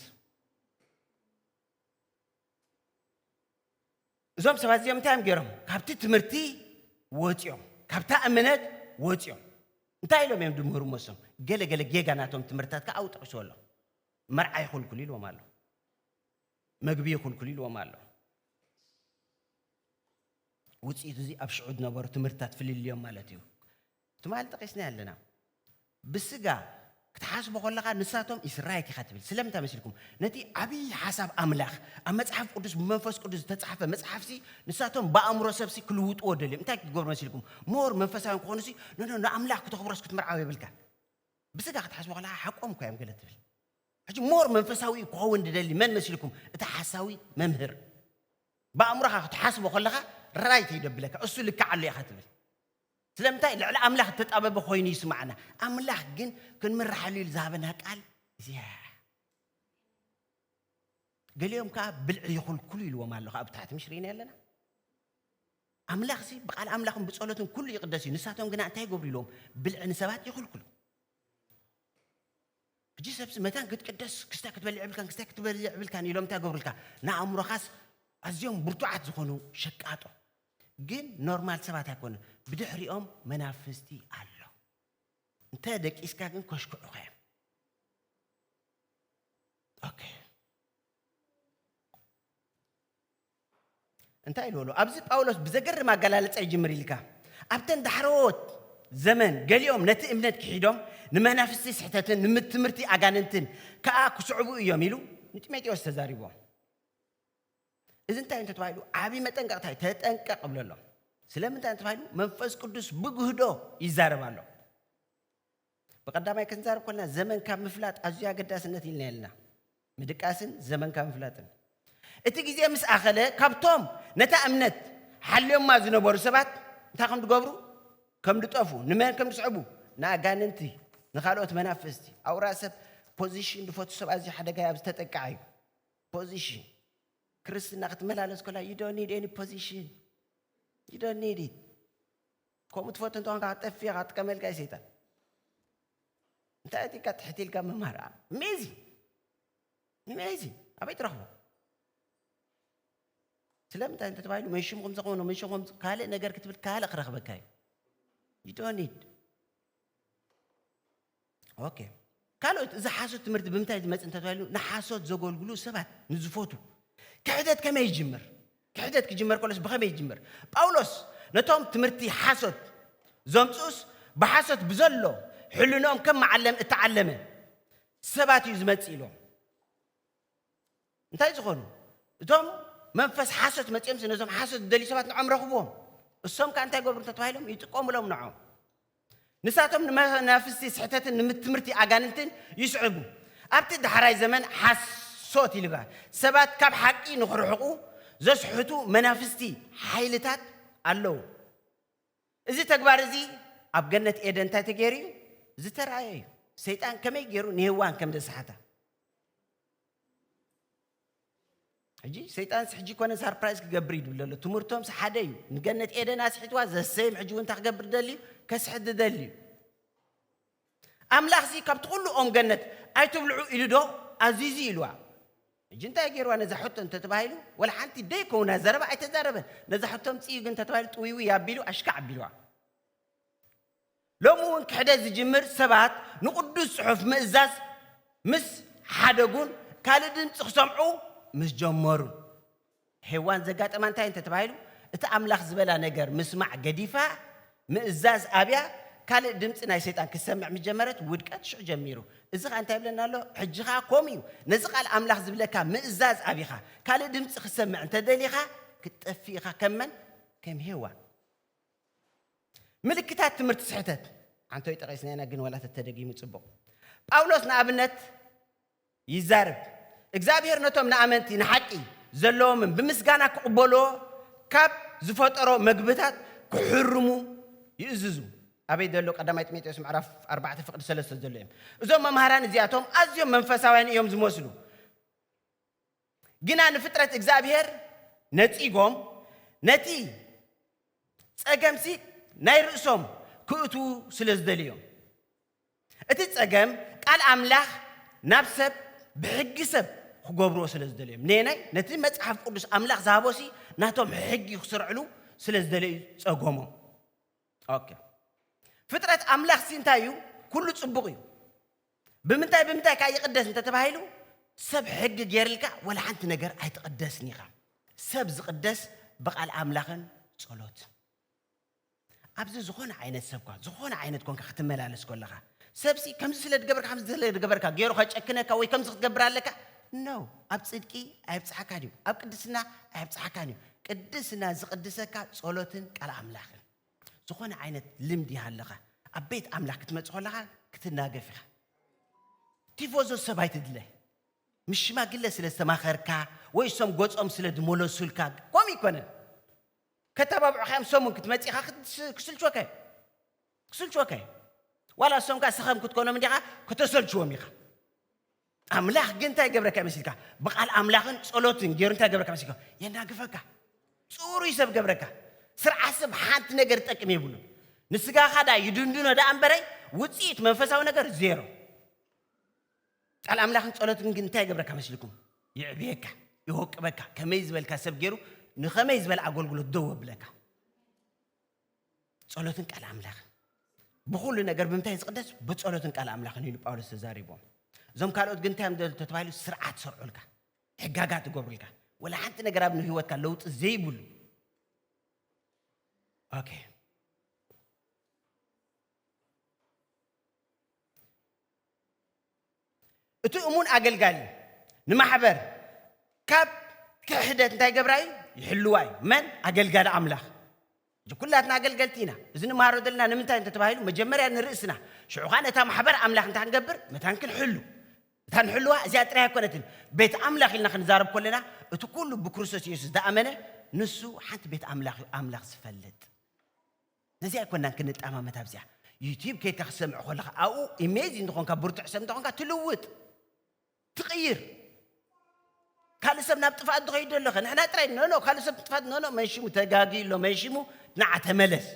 እዞም ሰባት እዚኦም እንታይ እዮም ገይሮም ካብቲ ትምህርቲ ወፂኦም ካብታ እምነት ወፂኦም እንታይ ኢሎም እዮም ድምህሩ መሶም ገለ ገለ ጌጋ ናቶም ትምህርትታት ከዓ ኣውጠቂሱ ኣሎ መርዓ ይኹልኩል ኢልዎም ኣሎ መግቢ ይኹልኩል ኢልዎም ኣሎ ውፅኢቱ እዚ ኣብ ሽዑ ዝነበሩ ትምህርትታት ፍልልዮም ማለት እዩ ትማል ጠቂስናዮ ኣለና ብስጋ ክትሓስቦ ከለኻ ንሳቶም ኢስ ራይት ኢኻ ትብል ስለምንታይ መሲልኩም ነቲ ዓብይ ሓሳብ ኣምላኽ ኣብ መጽሓፍ ቅዱስ ብመንፈስ ቅዱስ ዝተጻሕፈ መጽሓፍሲ ንሳቶም ብኣእምሮ ሰብሲ ክልውጥዎ ደልዮም እንታይ ክትገብሩ መሲልኩም ሞር መንፈሳውያን ክኾኑሲ ኖኖ ንኣምላኽ ክተኽብሮስ ክትምርዓው የብልካን ብስጋ ክትሓስቦ ከለኻ ሓቆም እኳ እዮም ገለ ትብል ሕጂ ሞር መንፈሳዊ ክኸውን ድደሊ መን መሲልኩም እቲ ሓሳዊ መምህር ብኣእምሮኻ ክትሓስቦ ከለኻ ራይት እዩ ደብለካ እሱ ልክዓሉ ኢኻ ትብል ስለምንታይ ልዕሊ ኣምላኽ እተጣበበ ኮይኑ ይስምዓና፣ ኣምላኽ ግን ክንምርሓሉ ኢሉ ዝሃበና ቃል እዚኣ እያ። ገሊኦም ከኣ ብልዒ ይኹልኩሉ ኢልዎም ኣሎ ከኣ ብታሕቲ ምሽ ርኢና ኣለና። ኣምላኽሲ ብቃል ኣምላኽን ብጸሎትን ኩሉ ይቕደስ እዩ፣ ንሳቶም ግና እንታይ ይገብሩ ኢልዎም ብልዒ ንሰባት ይኹልኩሉ። ሕጂ ሰብሲ መታን ክትቅደስ ክስታይ ክትበልዕ ይብልካን ክስታይ ክትበልዕ ይብልካን ኢሎም እንታይ ገብሩልካ ንኣእምሮኻስ ኣዝዮም ብርቱዓት ዝኾኑ ሸቃጦ ግን ኖርማል ሰባት ኣይኮኑን ብድሕሪኦም መናፍስቲ ኣሎ እንተ ደቂስካ ግን ከሽክዑኻ እዮም ኦኬ እንታይ ኢሉ ኣሎ ኣብዚ ጳውሎስ ብዘገርም ኣገላልፃ ይጅምር ኢልካ ኣብተን ዳሕረዎት ዘመን ገሊኦም ነቲ እምነት ክሒዶም ንመናፍስቲ ስሕተትን ንምትምህርቲ ኣጋንንትን ከዓ ክስዕቡ እዮም ኢሉ ንጢሞቴዎስ ተዛሪቦም እዚ እንታይ እዩ እንተተባሂሉ ዓብዪ መጠንቀቕታ እዩ ተጠንቀቕ እብሎ ኣሎ ስለምንታይ እንተባሂሉ መንፈስ ቅዱስ ብግህዶ ይዛረብ ኣሎ ብቀዳማይ ክንዛረብ ኮልና ዘመን ካብ ምፍላጥ ኣዝዩ ኣገዳስነት ኢልና የለና ምድቃስን ዘመን ካብ ምፍላጥን እቲ ግዜ ምስ ኣኸለ ካብቶም ነታ እምነት ሓልዮማ ዝነበሩ ሰባት እንታይ ከም ዝገብሩ ከም ዝጠፉ ንመን ከም ዝስዕቡ ንኣጋንንቲ ንካልኦት መናፍስቲ ኣውራ ሰብ ፖዚሽን ዝፈቱ ሰብ ኣዝዩ ሓደጋ ኣብ ዝተጠቅዓ እዩ Position ክርስትና ክትመላለስ ከላ you don't need any position you don't need it ከምኡ ትፈቱ እንተኾንካ ክትጠፍእ ኢኻ ጥቀመልካ እዩ ሰይጣን እንታይ እቲ ኢልካ ትሕቲ ኢልካ ምምሃር ኣሜዚንግ ኣሜዚንግ ኣበይ ትረኽቦ ስለምንታይ እንተተባሂሉ መን ሽሙ ከምዚ ከሆነ መን ሽሙ ከምዚ ካልእ ነገር ክትብል ካልእ ክረኽበካ እዩ you don't need ኦኬ ካልኦት እዚ ሓሶት ትምህርቲ ብምንታይ ዝመፅ እንተተባሂሉ ንሓሶት ዘገልግሉ ሰባት ንዝፈቱ ክሕደት ከመይ ይጅምር ክሕደት ክጅመር ከሎስ ብኸመይ ይጅምር ጳውሎስ ነቶም ትምህርቲ ሓሶት ዘምፅኡስ ብሓሶት ብዘሎ ሕልኖኦም ከም መዓለም እተዓለመ ሰባት እዩ ዝመፅ ኢሎም እንታይ ዝኾኑ እቶም መንፈስ ሓሶት መጺኦምሲ ነዞም ሓሶት ዝደልዩ ሰባት ንዖም ረኽብዎም እሶም ከዓ እንታይ ገብሩ እንተተባሂሎም ይጥቆሙሎም ንዖም ንሳቶም ንመናፍስቲ ስሕተትን ንምትምህርቲ ኣጋንንትን ይስዕቡ ኣብቲ ዳሕራይ ዘመን ሓሶት ይልባል ሰባት ካብ ሓቂ ንክርሕቑ ዘስሕቱ መናፍስቲ ሓይልታት ኣለዉ እዚ ተግባር እዚ ኣብ ገነት ኤደን እንታይ ተገይሩ እዩ? ዝተራእየ እዩ። ሰይጣን ከመይ ገይሩ ንሄዋን ከም ዘስሓታ። ሕጂ ሰይጣንስ ሕጂ ኮነ ሳርፕራይዝ ክገብር ይድብል ዘሎ ትምህርቶምስ ሓደ እዩ። ንገነት ኤደን ኣስሒትዋ ዘሰይም ሕጂ እውን እንታይ ክገብር ደልዩ ከስሕት ደልዩ ኣምላኽሲ ካብቲ ዅሉ ኦም ገነት ኣይትብልዑ ኢሉዶ ኣዚዙ? ኢልዋ። ሕጂ እንታይ ገይርዋ ነዛ ሕቶ እንተ ተባሂሉ፣ ዋላ ሓንቲ ደይከውና ዘረባ ኣይተዛረበን። ነዛ ሕቶ ኣምጽእዩ ግን እንተ ተባሂሉ ጥውይውይ ኣቢሉ ኣሽካዕ ኣቢልዋ። ሎሚ እውን ክሕደት ዝጅምር ሰባት ንቕዱስ ጽሑፍ ምእዛዝ ምስ ሓደጉን ካልእ ድምጺ ክሰምዑ ምስ ጀመሩን፣ ሄዋን ዘጋጠማ እንታይ እንተ ተባሂሉ እቲ ኣምላኽ ዝበላ ነገር ምስማዕ ገዲፋ ምእዛዝ ኣብያ ካልእ ድምጺ ናይ ሰይጣን ክትሰምዕ ምስ ጀመረት ውድቀት ሽዑ ጀሚሩ። እዚ ኸኣ እንታይ ይብለና ኣሎ? ሕጂ ኸኣ ከምኡ እዩ። ነዚ ቃል ኣምላኽ ዝብለካ ምእዛዝ ኣቢኻ ካልእ ድምጺ ክትሰምዕ እንተ ደሊኻ ክትጠፍእ ኢኻ ከም መን? ከም ሄዋን። ምልክታት ትምህርቲ ስሕተት ሓንቶይ ጠቒስና ኢና ግን ዋላ ተተደጊሙ ጽቡቕ። ጳውሎስ ንኣብነት ይዛረብ። እግዚኣብሄር ነቶም ንኣመንቲ ንሓቂ ዘለዎምን ብምስጋና ክቕበልዎ ካብ ዝፈጠሮ መግብታት ክሕርሙ ይእዝዙ። ኣበይ ዘሎ ቀዳማይ ጢሞቴዎስ ምዕራፍ ኣርባዕተ ፍቕዲ ሰለስተ ዘሎ እዩም። እዞም መምሃራን እዚኣቶም ኣዝዮም መንፈሳውያን እዮም ዝመስሉ። ግና ንፍጥረት እግዚኣብሄር ነጺጎም ነቲ ጸገምሲ ናይ ርእሶም ክእትዉ ስለ ዝደልዩዮም። እቲ ጸገም ቃል ኣምላኽ ናብ ሰብ ብሕጊ ሰብ ክገብርዎ ስለ ዝደልዩዮም። ነየናይ? ነቲ መጽሓፍ ቅዱስ ኣምላኽ ዝሃቦሲ ናቶም ሕጊ ክስርዕሉ ስለ ዝደለዩ ጸገሞም። ኦኬ ፍጥረት ኣምላኽሲ እንታይ እዩ? ኩሉ ጽቡቕ እዩ። ብምንታይ ብምንታይ ከኣ ይቕደስ እንተ ተባሂሉ ሰብ ሕጊ ጌርልካ ወላ ሓንቲ ነገር ኣይትቕደስን ኢኻ። ሰብ ዝቕደስ ብቓል ኣምላኽን ጸሎትን። ኣብዚ ዝኾነ ዓይነት ሰብኳ ዝኾነ ዓይነት ኮንካ ክትመላለስ ኮለኻ ሰብሲ ከምዚ ስለ ድገበርካ ከምዚ ስለ ድገበርካ ገይሩ ከጨክነካ ወይ ከምዚ ክትገብር ኣለካ ነው ኣብ ጽድቂ ኣየብጽሓካን እዩ ኣብ ቅድስና ኣየብጽሓካን እዩ ቅድስና ዝቕድሰካ ጸሎትን ቃል ኣምላኽን ዝኾነ ዓይነት ልምዲ ይሃልኻ ኣብ ቤት ኣምላኽ ክትመጽእ ከለኻ ክትናገፍ ኢኻ። ቲፎዞ ሰብ ኣይትድለ። ምስ ሽማግለ ስለ ዝተማኸርካ ወይ እሶም ገጾም ስለ ዝመለሱልካ ከምኡ ኣይኮነን። ከተባብዑኻ እዮም እሶም እውን ክትመጽእ ኢኻ ክስልችወካ እዩ ክስልችወካ እዩ ዋላ እሶም ከዓ ሰኸም ክትኮኖም እንዲኻ ከተሰልችዎም ኢኻ። ኣምላኽ ግን እንታይ ይገብረካ እዩ መሲልካ? ብቓል ኣምላኽን ጸሎትን ገይሩ እንታይ ይገብረካ መሲልካ? የናግፈካ። ጽሩይ ሰብ ገብረካ። ስርዓት ሰብ ሓንቲ ነገር ዝጠቅም የብሉን። ንስጋኻ ደኣ ይድንድኖ ደኣ እምበረይ ውጽኢት መንፈሳዊ ነገር ዜሮ። ቃል ኣምላኽን ጸሎትን ግን እንታይ ይገብረካ መስልኩም? ይዕብየካ፣ ይወቅበካ፣ ከመይ ዝበልካ ሰብ ገይሩ ንኸመይ ዝበለ ኣገልግሎት ደው ኣብለካ። ጸሎትን ቃል ኣምላኽን ብኹሉ ነገር ብምንታይ ዝቕደስ ብጸሎትን ቃል ኣምላኽን ኢሉ ጳውሎስ ተዛሪቦም እዞም ካልኦት ግን እንታይ እዮም ተባሂሉ ስርዓት ሰርዑልካ ሕጋጋት ይገብሩልካ ወላ ሓንቲ ነገር ኣብ ንህይወትካ ለውጢ ዘይብሉ ኦኬ እቲ እሙን ኣገልጋሊ ንማሕበር ካብ ክሕደት እንታይ ገብራ እዩ ይሕልዋ እዩ መን ኣገልጋሊ ኣምላኽ እዚ ኩላትና ኣገልገልቲ ኢና እዚ ንመሃሮ ዘለና ንምንታይ እንተ ተባሂሉ መጀመርያ ንርእስና ሽዑ ከዓ ነታ ማሕበር ኣምላኽ እንታይ ክንገብር መታን ክንሕሉ እታ ንሕልዋ እዚኣ ጥራይ ኣይኮነትን ቤት ኣምላኽ ኢልና ክንዛረብ ከለና እቲ ኩሉ ብክርስቶስ ኢየሱስ ዝኣመነ ንሱ ሓንቲ ቤት ኣምላኽ እዩ ኣምላኽ ዝፈልጥ ነዚኣ ኣይኮናን ክንጠማመት ኣብዚኣ ዩቲብ ከይድካ ክትሰምዕ ኮለኻ ኣብኡ ኢሜጅ እንተኾንካ ብርቱዕ ሰብ እንተኾንካ ትልውጥ ትቕይር ካልእ ሰብ ናብ ጥፍኣት ዝኸይድ ኣለኸ ንሕና ጥራይ ኖኖ ካልእ ሰብ ጥፍኣት ኖኖ መንሽሙ ተጋጊ ኣሎ መንሽሙ ንዓ ተመለስ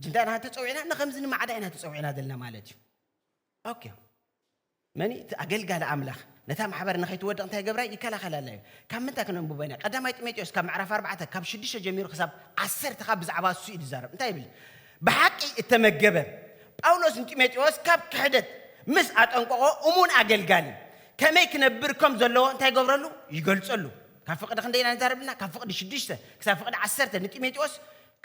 እንታ ኢና ተፀዊዕና ንከምዚ ንማዕዳ ኢና ተፀዊዕና ዘለና ማለት እዩ ኦኬ መን እቲ ኣገልጋሊ ኣምላኽ ነታ ማሕበር ንኸይትወድቕ እንታይ ገብራይ ይከላኸላላ እዩ ካብ ምንታይ ክነንብቦ ኢና ቀዳማይ ጢሞቴዎስ ካብ ምዕራፍ ኣርባዕተ ካብ ሽዱሽተ ጀሚሩ ክሳብ ዓሰርተ ካብ ብዛዕባ እሱ እዩ ዝዛረብ እንታይ ይብል ብሓቂ እተመገበ ጳውሎስ ንጢሞቴዎስ ካብ ክሕደት ምስ ኣጠንቀቖ እሙን ኣገልጋሊ ከመይ ክነብር ከም ዘለዎ እንታይ ገብረሉ ይገልጸሉ ካብ ፍቕዲ ክንደይ ኢና ንዛረብልና ካብ ፍቕዲ ሽዱሽተ ክሳብ ፍቕዲ ዓሰርተ ንጢሞቴዎስ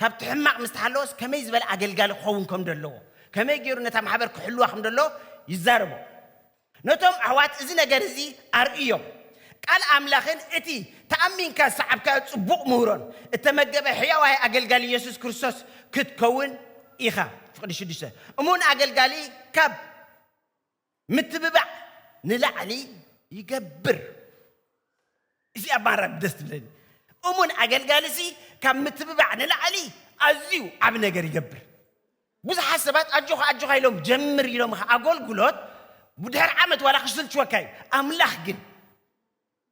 ካብቲ ሕማቕ ምስ ተሓለወስ ከመይ ዝበለ ኣገልጋሊ ክኸውን ከም ዘለዎ፣ ከመይ ገይሩ ነታ ማሕበር ክሕልዋ ከም ዘለዎ ይዛረቦ። ነቶም ኣሕዋት እዚ ነገር እዚ ኣርእዮም። ቃል ኣምላኽን እቲ ተኣሚንካ ዝሰዓብካዮ ጽቡቕ ምህሮን እተመገበ ሕያዋይ ኣገልጋሊ የሱስ ክርስቶስ ክትከውን ኢኻ። ፍቕዲ ሽዱሽተ እሙን ኣገልጋሊ ካብ። ምትብባዕ ንላዕሊ ይገብር። እዚኣ ኣባራብ ደስ ትብለኒ። እሙን ኣገልጋሊ ሲ ካብ ምትብባዕ ንላዕሊ ኣዝዩ ዓቢ ነገር ይገብር። ብዙሓት ሰባት ኣጆኻ ኣጆኻ ኢሎም ጀምር ኢሎምኻ ኣጎልጉሎት ድሕሪ ዓመት ዋላ ክስልችወካ እዩ። ኣምላኽ ግን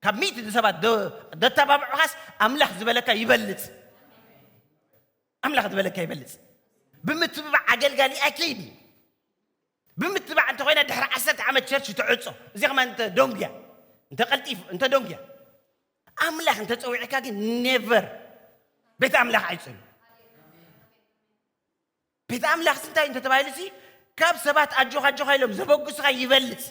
ካብ ሚእቲ ንሰባት ዶ- ደተባብዑኻስ ኣምላኽ ዝበለካ ይበልጽ ኣምላኽ ዝበለካ ይበልጽ ብምትብባዕ ኣገልጋሊኣ ከይዲ ብምትባዕ እንተኮይና ድሕሪ ዓሰርተ ዓመት ቸርች ትዕፆ እዚ ከማ እንተ ዶንግያ እንተ ቀልጢፍ እንተ ዶንግያ ኣምላኽ እንተፀዊዕካ ግን ኔቨር ቤት ኣምላኽ ኣይፅኑ ቤት ኣምላኽ ስንታይ እንተተባሂሉ ሲ ካብ ሰባት ኣጆኻ ኣጆኻ ኢሎም ዘበግሱኻ ይበልፅ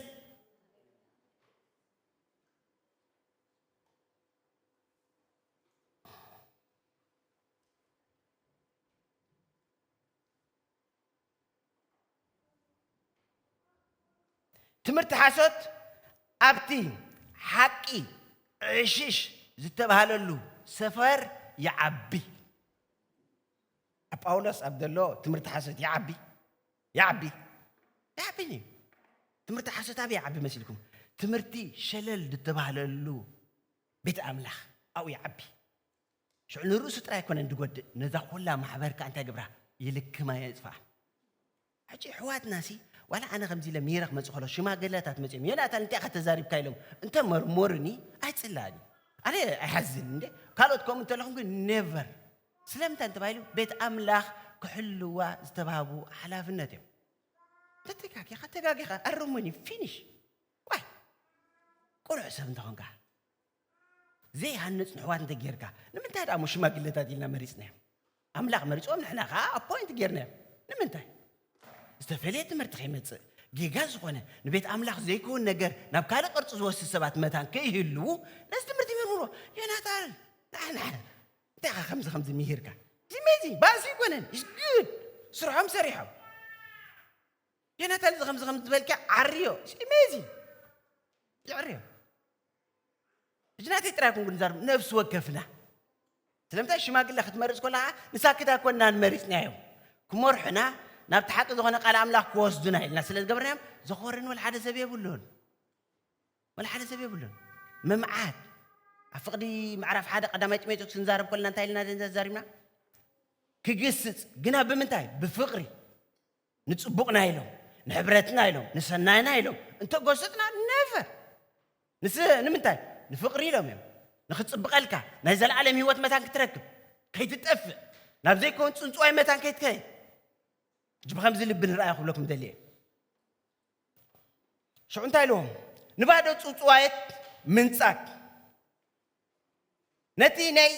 ትምህርቲ ሓሶት ኣብቲ ሓቂ ዕሽሽ ዝተባህለሉ ሰፈር ይዓቢ ኣብ ጳውሎስ ኣብ ዘሎ ትምህርቲ ሓሶት ይዓቢ ይዓቢ ይዓቢ እዩ ትምህርቲ ሓሶት ኣበይ ይዓቢ መሲልኩም ትምህርቲ ሸለል ዝተባህለሉ ቤት ኣምላኽ ኣብኡ ይዓቢ ሽዑ ንርእሱ ጥራይ ኣይኮነን ድጎድእ ነዛ ኩላ ማሕበር ከዓ እንታይ ግብራ ይልክማ የፅፋ ሕጂ ኣሕዋትና ሲ ዋላ ኣነ ከምዚ ኢለ ሚረ ክመፅእ ከሎ ሽማግለታት መፅኦም ዮናታን እንታይ ኢኻ ተዛሪብካ ኢሎም እንተ መርሞርኒ ኣይፅላእን ኣነ ኣይሓዝን እንደ ካልኦት ከምኡ እንተለኹም ግን ኔቨር ስለምንታይ እንተ ባሂሉ ቤት ኣምላኽ ክሕልዋ ዝተባህቡ ሓላፍነት እዮም። እንተ ተጋጊኻ ተጋጊኻ ኣርሙኒ finish ዋይ ቅኑዕ ሰብ እንተ ኾንካ ዘይሃንጽ ንሕዋት እንተ ጌርካ ንምንታይ ደኣ እሞ ሽማግለታት ኢልና መሪጽናዮም ኣምላኽ መሪጾም ንሕና ከኣ ኣፖይንት ጌርናዮም ንምንታይ ዝተፈልየ ትምህርቲ ከይመጽእ ጌጋ ዝኾነ ንቤት ኣምላኽ ዘይከውን ነገር ናብ ካልእ ቅርፂ ዝወስድ ሰባት መታን ከይህልዉ ነዚ ትምህርቲ ይምርምርዎ ዮናታን ንዓና እንታይ ኢኻ ከምዚ ከምዚ ምሂርካ ዚሜዚንግ ባእሲ ይኮነን ኢስ ጉድ ስርሖም ሰሪሖም ዮናታን እዚ ከምዚ ከምዚ ዝበልካ ዓርዮ ኢስ ኢሜዚንግ ይዕርዮ እዚ ናተይ ጥራይ ኩን ክንዛርብ ነፍሲ ወከፍና ስለምንታይ ሽማግለ ክትመርፅ ኮለኻ ንሳክት ኣይኮናን መሪፅናዮም ክመርሑና ናብቲ ሓቂ ዝኾነ ቃል ኣምላኽ ክወስዱና ኢልና ስለ ዝገበርናዮም ዘኾርንወል ሓደ ሰብ የብሉን ዋላ ሓደ ሰብ የብሉን ምምዓት ኣብ ፍቅዲ ምዕራፍ ሓደ ቀዳማይ ጢሞቴዎስ ክንዛረብ ከለና እንታይ ኢልና ደንዛ ዛሪብና ክግስጽ ግና ብምንታይ ብፍቅሪ ንጽቡቅና ኢሎም ንሕብረትና ኢሎም ንሰናይና ኢሎም እንተጎሰጽና ነቨር ንስ ንምንታይ ንፍቅሪ ኢሎም እዮም ንክጽብቀልካ ናይ ዘለኣለም ህይወት መታን ክትረክብ ከይትጠፍእ ናብ ዘይከውን ጽንጽዋይ መታን ከይትከይድ እጅ ብከምዚ ልቢ ንርኣዩ ክብለኩም ደልየ ሽዑ እንታይ ኢልዎም? ንባዶ ጽውጽዋየት ምንጻግ ነቲ ናይ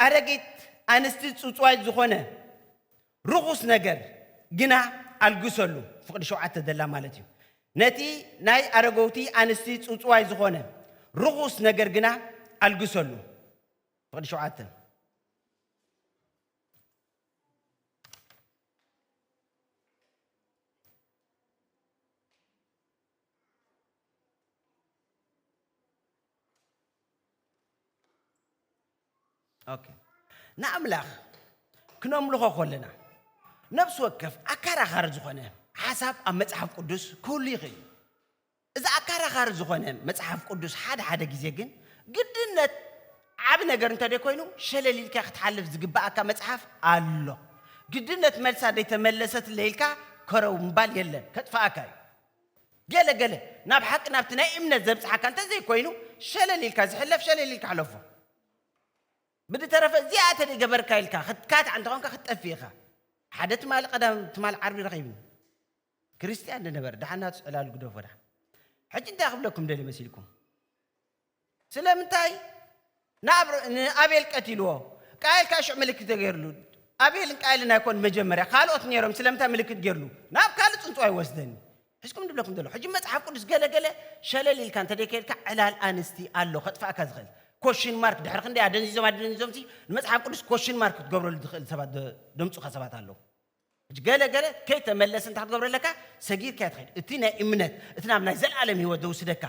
ኣረጊት ኣንስቲ ጽውጽዋየት ዝኾነ ርኹስ ነገር ግና ኣልግሰሉ። ፍቕዲ ሸውዓተ ዘላ ማለት እዩ። ነቲ ናይ ኣረገውቲ ኣንስቲ ጽውጽዋይ ዝኾነ ርኹስ ነገር ግና ኣልግሰሉ። ፍቕዲ ሸውዓተ ንኣምላኽ ክነምልኾ ከለና ነፍሲ ወከፍ ኣከራኻሪ ዝኾነ ሓሳብ ኣብ መጽሓፍ ቅዱስ ክህሉ ይኽእል እዩ እዚ ኣካራኻሪ ዝኾነ መጽሓፍ ቅዱስ ሓደ ሓደ ግዜ ግን ግድነት ዓቢ ነገር እንተደይ ኮይኑ ሸለል ኢልካ ክትሓልፍ ዝግበኣካ መጽሓፍ ኣሎ። ግድነት መልሳ ደይ ተመለሰትለይ ኢልካ ከረው ምባል የለን ከጥፈኣካ እዩ። ገለ ገለ ናብ ሓቂ ናብቲ ናይ እምነት ዘብጽሓካ እንተዘይ ኮይኑ ሸለል ኢልካ ዝሕለፍ ሸለል ኢልካ ሕለፎ። ብድተረፈ እዚኣ ተደይ ገበርካ ኢልካ ክትካታዕ እንተኾንካ ክትጠፍእ ኢኻ። ሓደ ትማሊ ቀዳም ትማሊ ዓርቢ ረኺብኒ። ክርስትያን ንነበረ ድሓን ናቱስ ዕላሉ ግደፎ ድሓን ሕጂ እንታይ ክብለኩም ደልየ መሲልኩም ስለምንታይ ንኣቤል ቀቲልዎ ቃየል ካኣ ሽዑ ምልክት ተገይርሉ ኣቤልን ቃየልን ኣይኮን መጀመርያ ካልኦት ነይሮም ስለምንታይ ምልክት ገይርሉ ናብ ካልእ ፅንፅዋ ይወስደኒ ሕዝኩም ድብለኩም ዘሎ ሕጂ መፅሓፍ ቅዱስ ገለገለ ሸለል ኢልካ እንተደይ ከይድካ ዕላል ኣንስቲ ኣሎ ከጥፋእካ ዝኽእል ኮሽን ማርክ ድሕሪ ክንደይ ኣደንዚዞም ኣደንዚዞም ሲ ንመጽሓፍ ቅዱስ ኮሽን ማርክ ክትገብረሉ ትኽእል ሰባት ደምጹኻ ሰባት ኣለዉ ሕጂ ገለ ገለ ከይተመለስ እንታይ ክትገብሮ ኣለካ ሰጊርካዮ ትኸይድ እቲ ናይ እምነት እቲ ናብ ናይ ዘለኣለም ህይወት ዘውስደካ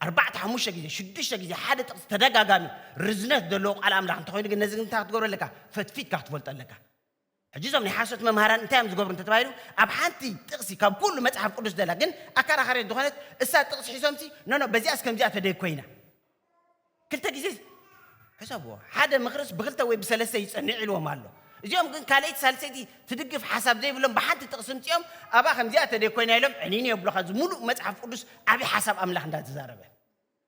ኣርባዕተ ሓሙሽተ ግዜ ሽዱሽተ ግዜ ሓደ ጥቕሲ ተደጋጋሚ ርዝነት ዘለዎ ቃል ኣምላኽ እንተኾይኑ ግን ነዚ እንታይ ክትገብሮ ኣለካ ፈትፊትካ ክትፈልጦ ኣለካ ሕጂ እዞም ናይ ሓሶት መምሃራን እንታይ እዮም ዝገብሩ እንተተባሂሉ ኣብ ሓንቲ ጥቕሲ ካብ ኩሉ መጽሓፍ ቅዱስ ዘላ ግን ኣከራኻሪት ዝኾነት እሳ ጥቕሲ ሒዞምሲ ኖኖ በዚኣስ ከምዚኣ ተደይ ኮይና ክልተ ግዜ ሕሰብዎ፣ ሓደ ምኽርስ ብኽልተ ወይ ብሰለስተ ይጸንዕ ኢልዎም ኣሎ። እዚኦም ግን ካልኣይቲ ሳልሰይቲ ትድግፍ ሓሳብ ዘይብሎም ብሓንቲ ጥቕሲ ምጺኦም ኣብኣ ከምዚኣ ተደይ ኮይና ኢሎም ዕኒኒ የብሉኻ እዚ ሙሉእ መጽሓፍ ቁዱስ ዓቢ ሓሳብ ኣምላኽ እንዳ ተዛረበ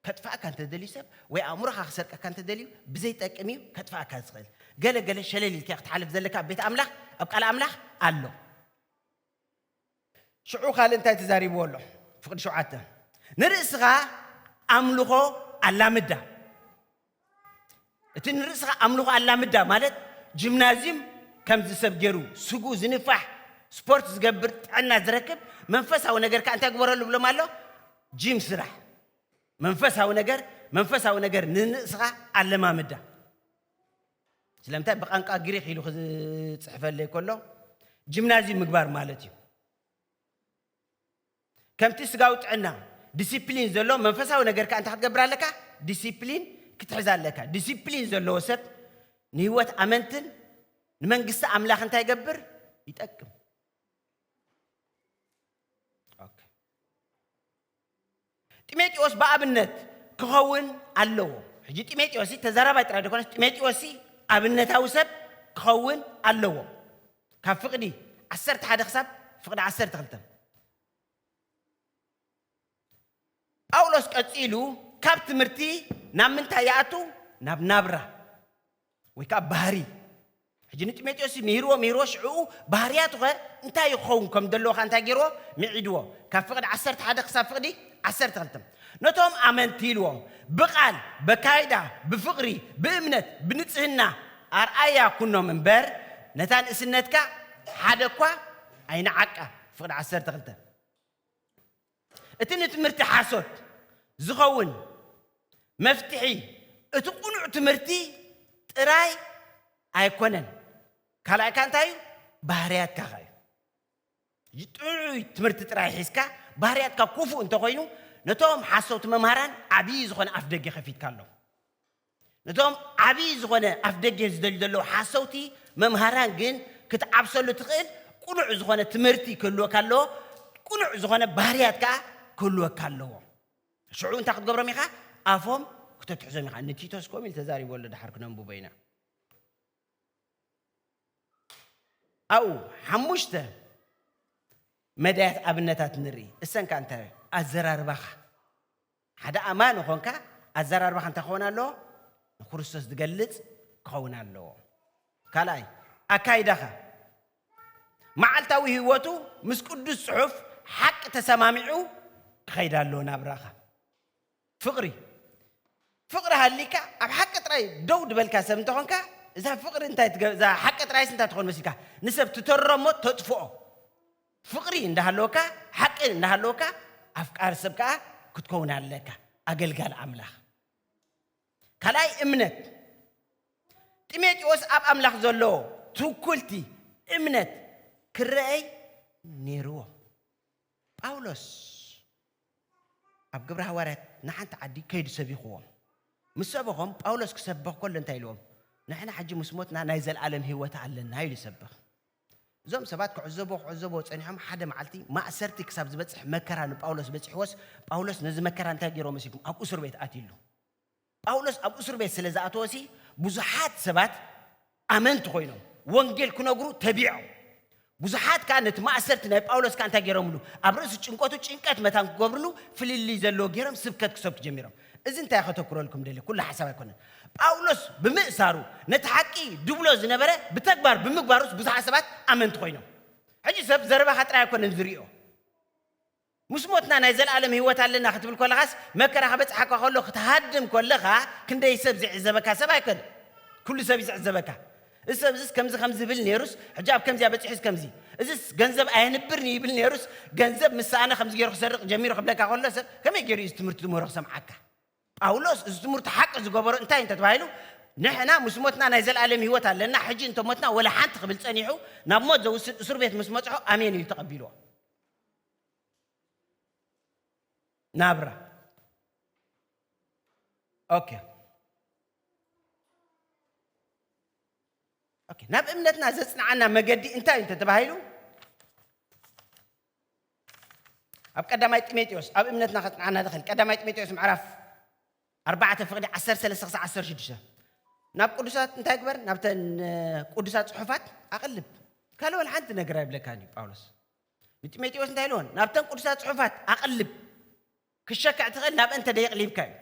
ከጥፍኣካ እንተ ደልዩ ሰብ ወይ ኣእምሮኻ ክሰርቀካ እንተ ደልዩ ብዘይ ጠቅም እዩ ከጥፍኣካ ዝኽእል ገለ ገለ ሸለል ኢልካዮ ክትሓልፍ ዘለካ ኣብ ቤት ኣምላኽ ኣብ ቃል ኣምላኽ ኣሎ። ሽዑ ካልእ እንታይ ተዛሪብዎ ኣሎ? ፍቕዲ ሸውዓተ ንርእስኻ ኣምልኾ ኣላምዳ። እቲ ንርእስኻ ኣምልኾ ኣላምዳ ማለት ጂምናዝዩም ከምዚ ሰብ ገይሩ ስጉ ዝንፋሕ ስፖርት ዝገብር ጥዕና ዝረክብ መንፈሳዊ ነገር ከዓ እንታይ ግበረሉ ብሎም ኣሎ ጂም ስራሕ መንፈሳዊ ነገር መንፈሳዊ ነገር ንርእስኻ ኣለማምዳ ስለምንታይ ብቛንቃ ግሪኽ ኢሉ ክጽሕፈለይ ከሎ ጂምናዝዩም ምግባር ማለት እዩ። ከምቲ ስጋዊ ጥዕና ዲሲፕሊን ዘሎ መንፈሳዊ ነገር ከኣ እንታይ ክትገብር ኣለካ? ዲሲፕሊን ክትሕዝ ኣለካ። ዲሲፕሊን ዘለዎ ሰብ ንህይወት ኣመንትን ንመንግስቲ ኣምላኽ እንታይ ይገብር? ይጠቅም። ጢሞቴዎስ ብኣብነት ክኸውን ኣለዎ። ሕጂ ጢሞቴዎስ ተዛራባይ ጥራይ ደኮነስ ጢሞቴዎስ ኣብነታዊ ሰብ ክኸውን ኣለዎ። ካብ ፍቅዲ ዓሰርተ ሓደ ክሳብ ፍቅዲ ዓሰርተ ክልተ ጳውሎስ ቀጺሉ ካብ ትምህርቲ ናብ ምንታይ ይኣቱ ናብ ናብራ ወይ ከኣ ባህሪ ሕጂ ንጢሞቴዎስ ምሂርዎ ምሂርዎ ሽዕኡ ባህርያቱኸ እንታይ እዩ ክኸውን ከም ዘለዎኻ እንታይ ገይርዎ ምዒድዎ ካብ ፍቕዲ ዓሰርተ ሓደ ክሳብ ፍቕዲ ዓሰርተ ክልተ ነቶም ኣመንቲ ኢልዎም ብቓል በካይዳ ብፍቕሪ ብእምነት ብንጽህና ኣርኣያ ኩኖም እምበር ነታ ንእስነትካ ሓደ እኳ ኣይንዓቃ ፍቕዲ ዓሰርተ ክልተ እቲ ንትምህርቲ ሓሶት ዝኸውን መፍትሒ እቲ ቅኑዕ ትምህርቲ ጥራይ ኣይኮነን። ካልኣይ ከኣ እንታይ እዩ? ባህርያትካ ከ እዩ። ጥዑይ ትምህርቲ ጥራይ ሒዝካ ባህርያትካ ክፉእ እንተኾይኑ ነቶም ሓሰውቲ መምህራን ዓብዪ ዝኾነ ኣፍደገ ከፊትካሎም። ነቶም ዓቢ ዝኾነ ኣፍደገ ዝደልዩ ዘለዉ ሓሰውቲ መምሃራን ግን ክትዓብሰሉ ትኽእል ቅኑዕ ዝኾነ ትምህርቲ ክህልወካ ኣለዎ፣ ቅኑዕ ዝኾነ ባህርያት ከኣ ክህልወካ ኣለዎ። ሽዑ እንታይ ክትገብሮም ኢኻ? ኣፎም ክተትሕዞም ኢኻ። ንቲቶስ ከምኡ ኢሉ ተዛሪቦ ኣሎ፣ ድሓር ክነንብቦ ኢና። ኣብኡ ሓሙሽተ መዳያት ኣብነታት ንርኢ። እሰን ከኣ እንታይ ኣዘራርባኻ ሓደ ኣማኒ ኾንካ ኣዘራርባኻ እንታይ ክኸውን ኣለዎ? ንክርስቶስ ዝገልጽ ክኸውን ኣለዎ። ካልኣይ፣ ኣካይዳኻ መዓልታዊ ህይወቱ ምስ ቅዱስ ጽሑፍ ሓቂ ተሰማሚዑ ክኸይድ ኣለዎ። ናብራኻ ፍቕሪ ፍቕሪ ሃሊካ ኣብ ሓቂ ጥራይ ደው ድበልካ ሰብ እንተኾንካ እዛ ፍቕሪ እንታይ እዛ ሓቂ ጥራይስ እንታይ ትኾን መሲልካ ንሰብ ትተሮሞ ተጥፍኦ ፍቕሪ እንዳሃለወካ ሓቂ እንዳሃለወካ ኣፍቃሪ ሰብ ከኣ ክትከውን ኣለካ ኣገልጋሊ ኣምላኽ። ካልኣይ እምነት ጢሞቴዎስ ኣብ ኣምላኽ ዘለዎ ትውኩልቲ እምነት ክረኣይ ነይርዎ። ጳውሎስ ኣብ ግብረ ሃዋርያት ንሓንቲ ዓዲ ከይዱ ሰቢኽዎም ምስ ሰበኾም ጳውሎስ ክሰብኽ ከሎ እንታይ ኢልዎም ንሕና ሕጂ ምስ ሞትና ናይ ዘለኣለም ህይወት ኣለና ኢሉ ይሰብኽ እዞም ሰባት ክዕዘቡ ክዕዘቡ ጸኒሖም ሓደ መዓልቲ ማእሰርቲ ክሳብ ዝበጽሕ መከራ ንጳውሎስ በጺሕዎስ ጳውሎስ ነዚ መከራ እንታይ ገይርዎ መሲልኩም ኣብ እሱር ቤት ኣትዩሉ ጳውሎስ ኣብ እሱር ቤት ስለ ዝኣተወሲ ብዙሓት ሰባት ኣመንቲ ኮይኖም ወንጌል ክነግሩ ተቢዖም ብዙሓት ከዓ ነቲ ማእሰርቲ ናይ ጳውሎስ ከዓ እንታይ ገይሮምሉ ኣብ ርእሲ ጭንቀቱ ጭንቀት መታን ክገብርሉ ፍልልይ ዘለዎ ገይሮም ስብከት ክሰብኩ ጀሚሮም እዚ እንታይ ከተኩረልኩም ደልየ ኩሉ ሓሳብ ኣይኮነን ጳውሎስ ብምእሳሩ ነቲ ሓቂ ድብሎ ዝነበረ ብተግባር ብምግባሩስ ብዙሓት ሰባት ኣመንቲ ኮይኖም ሕጂ ሰብ ዘረባኻ ጥራይ ኣይኮነን ዝሪኦ ምስ ሞትና ናይ ዘለኣለም ህይወት ኣለና ክትብል ኮለኻስ መከራ ከበጽሓካ ከሎ ክትሃድም ኮለኻ ክንደይ ሰብ ዝዕዘበካ ሰብ ኣይኮነ ኩሉ ሰብ ይዝዕዘበካ እዚ ሰብ እዚስ ከምዚ ከምዚ ዝብል ነይሩስ ሕጂ ኣብ ከምዚኣ በጺሑስ ከምዚ እዚስ ገንዘብ ኣየንብርን እዩ ይብል ነይሩስ ገንዘብ ምስ ሰኣነ ከምዚ ገይሩ ክሰርቕ ጀሚሩ ክብለካ ከሎ ሰብ ከመይ ገይሩ እዩ እዚ ትምህርቲ ዝምህሮ ክሰምዓካ ጳውሎስ እዚ ትምህርቱ ሓቂ ዝገበሮ እንታይ እንተ ተባሂሉ ንሕና ምስ ሞትና ናይ ዘለኣለም ህይወት ኣለና ሕጂ እንተ ሞትና ወላ ሓንቲ ክብል ጸኒሑ ናብ ሞት ዘውስድ እሱር ቤት ምስ መጽሖ ኣሜን ኢሉ ተቐቢልዎ ናብራ ኦኬ ኦኬ፣ ናብ እምነትና ዘጽንዓና መገዲ እንታይ እዩ እንተተባሂሉ ኣብ ቀዳማይ ጢሞቴዎስ ኣብ እምነትና ከጽንዓና ዝኽእል ቀዳማይ ጢሞቴዎስ ምዕራፍ ኣርባዕተ ፍቕዲ ዓሰርተ ሰለስተ ክሳብ ዓሰርተ ሽዱሽተ ናብ ቅዱሳት እንታይ ግበር ናብተን ቅዱሳት ጽሑፋት ኣቕልብ ካልእ ወላ ሓንቲ ነገር ኣይብለካን እዩ ጳውሎስ ንጢሞቴዎስ እንታይ ኢልዎን ናብተን ቅዱሳት ጽሑፋት ኣቕልብ ክሸክዕ ትኽእል ናብአን ተደይቕሊብካ እዩ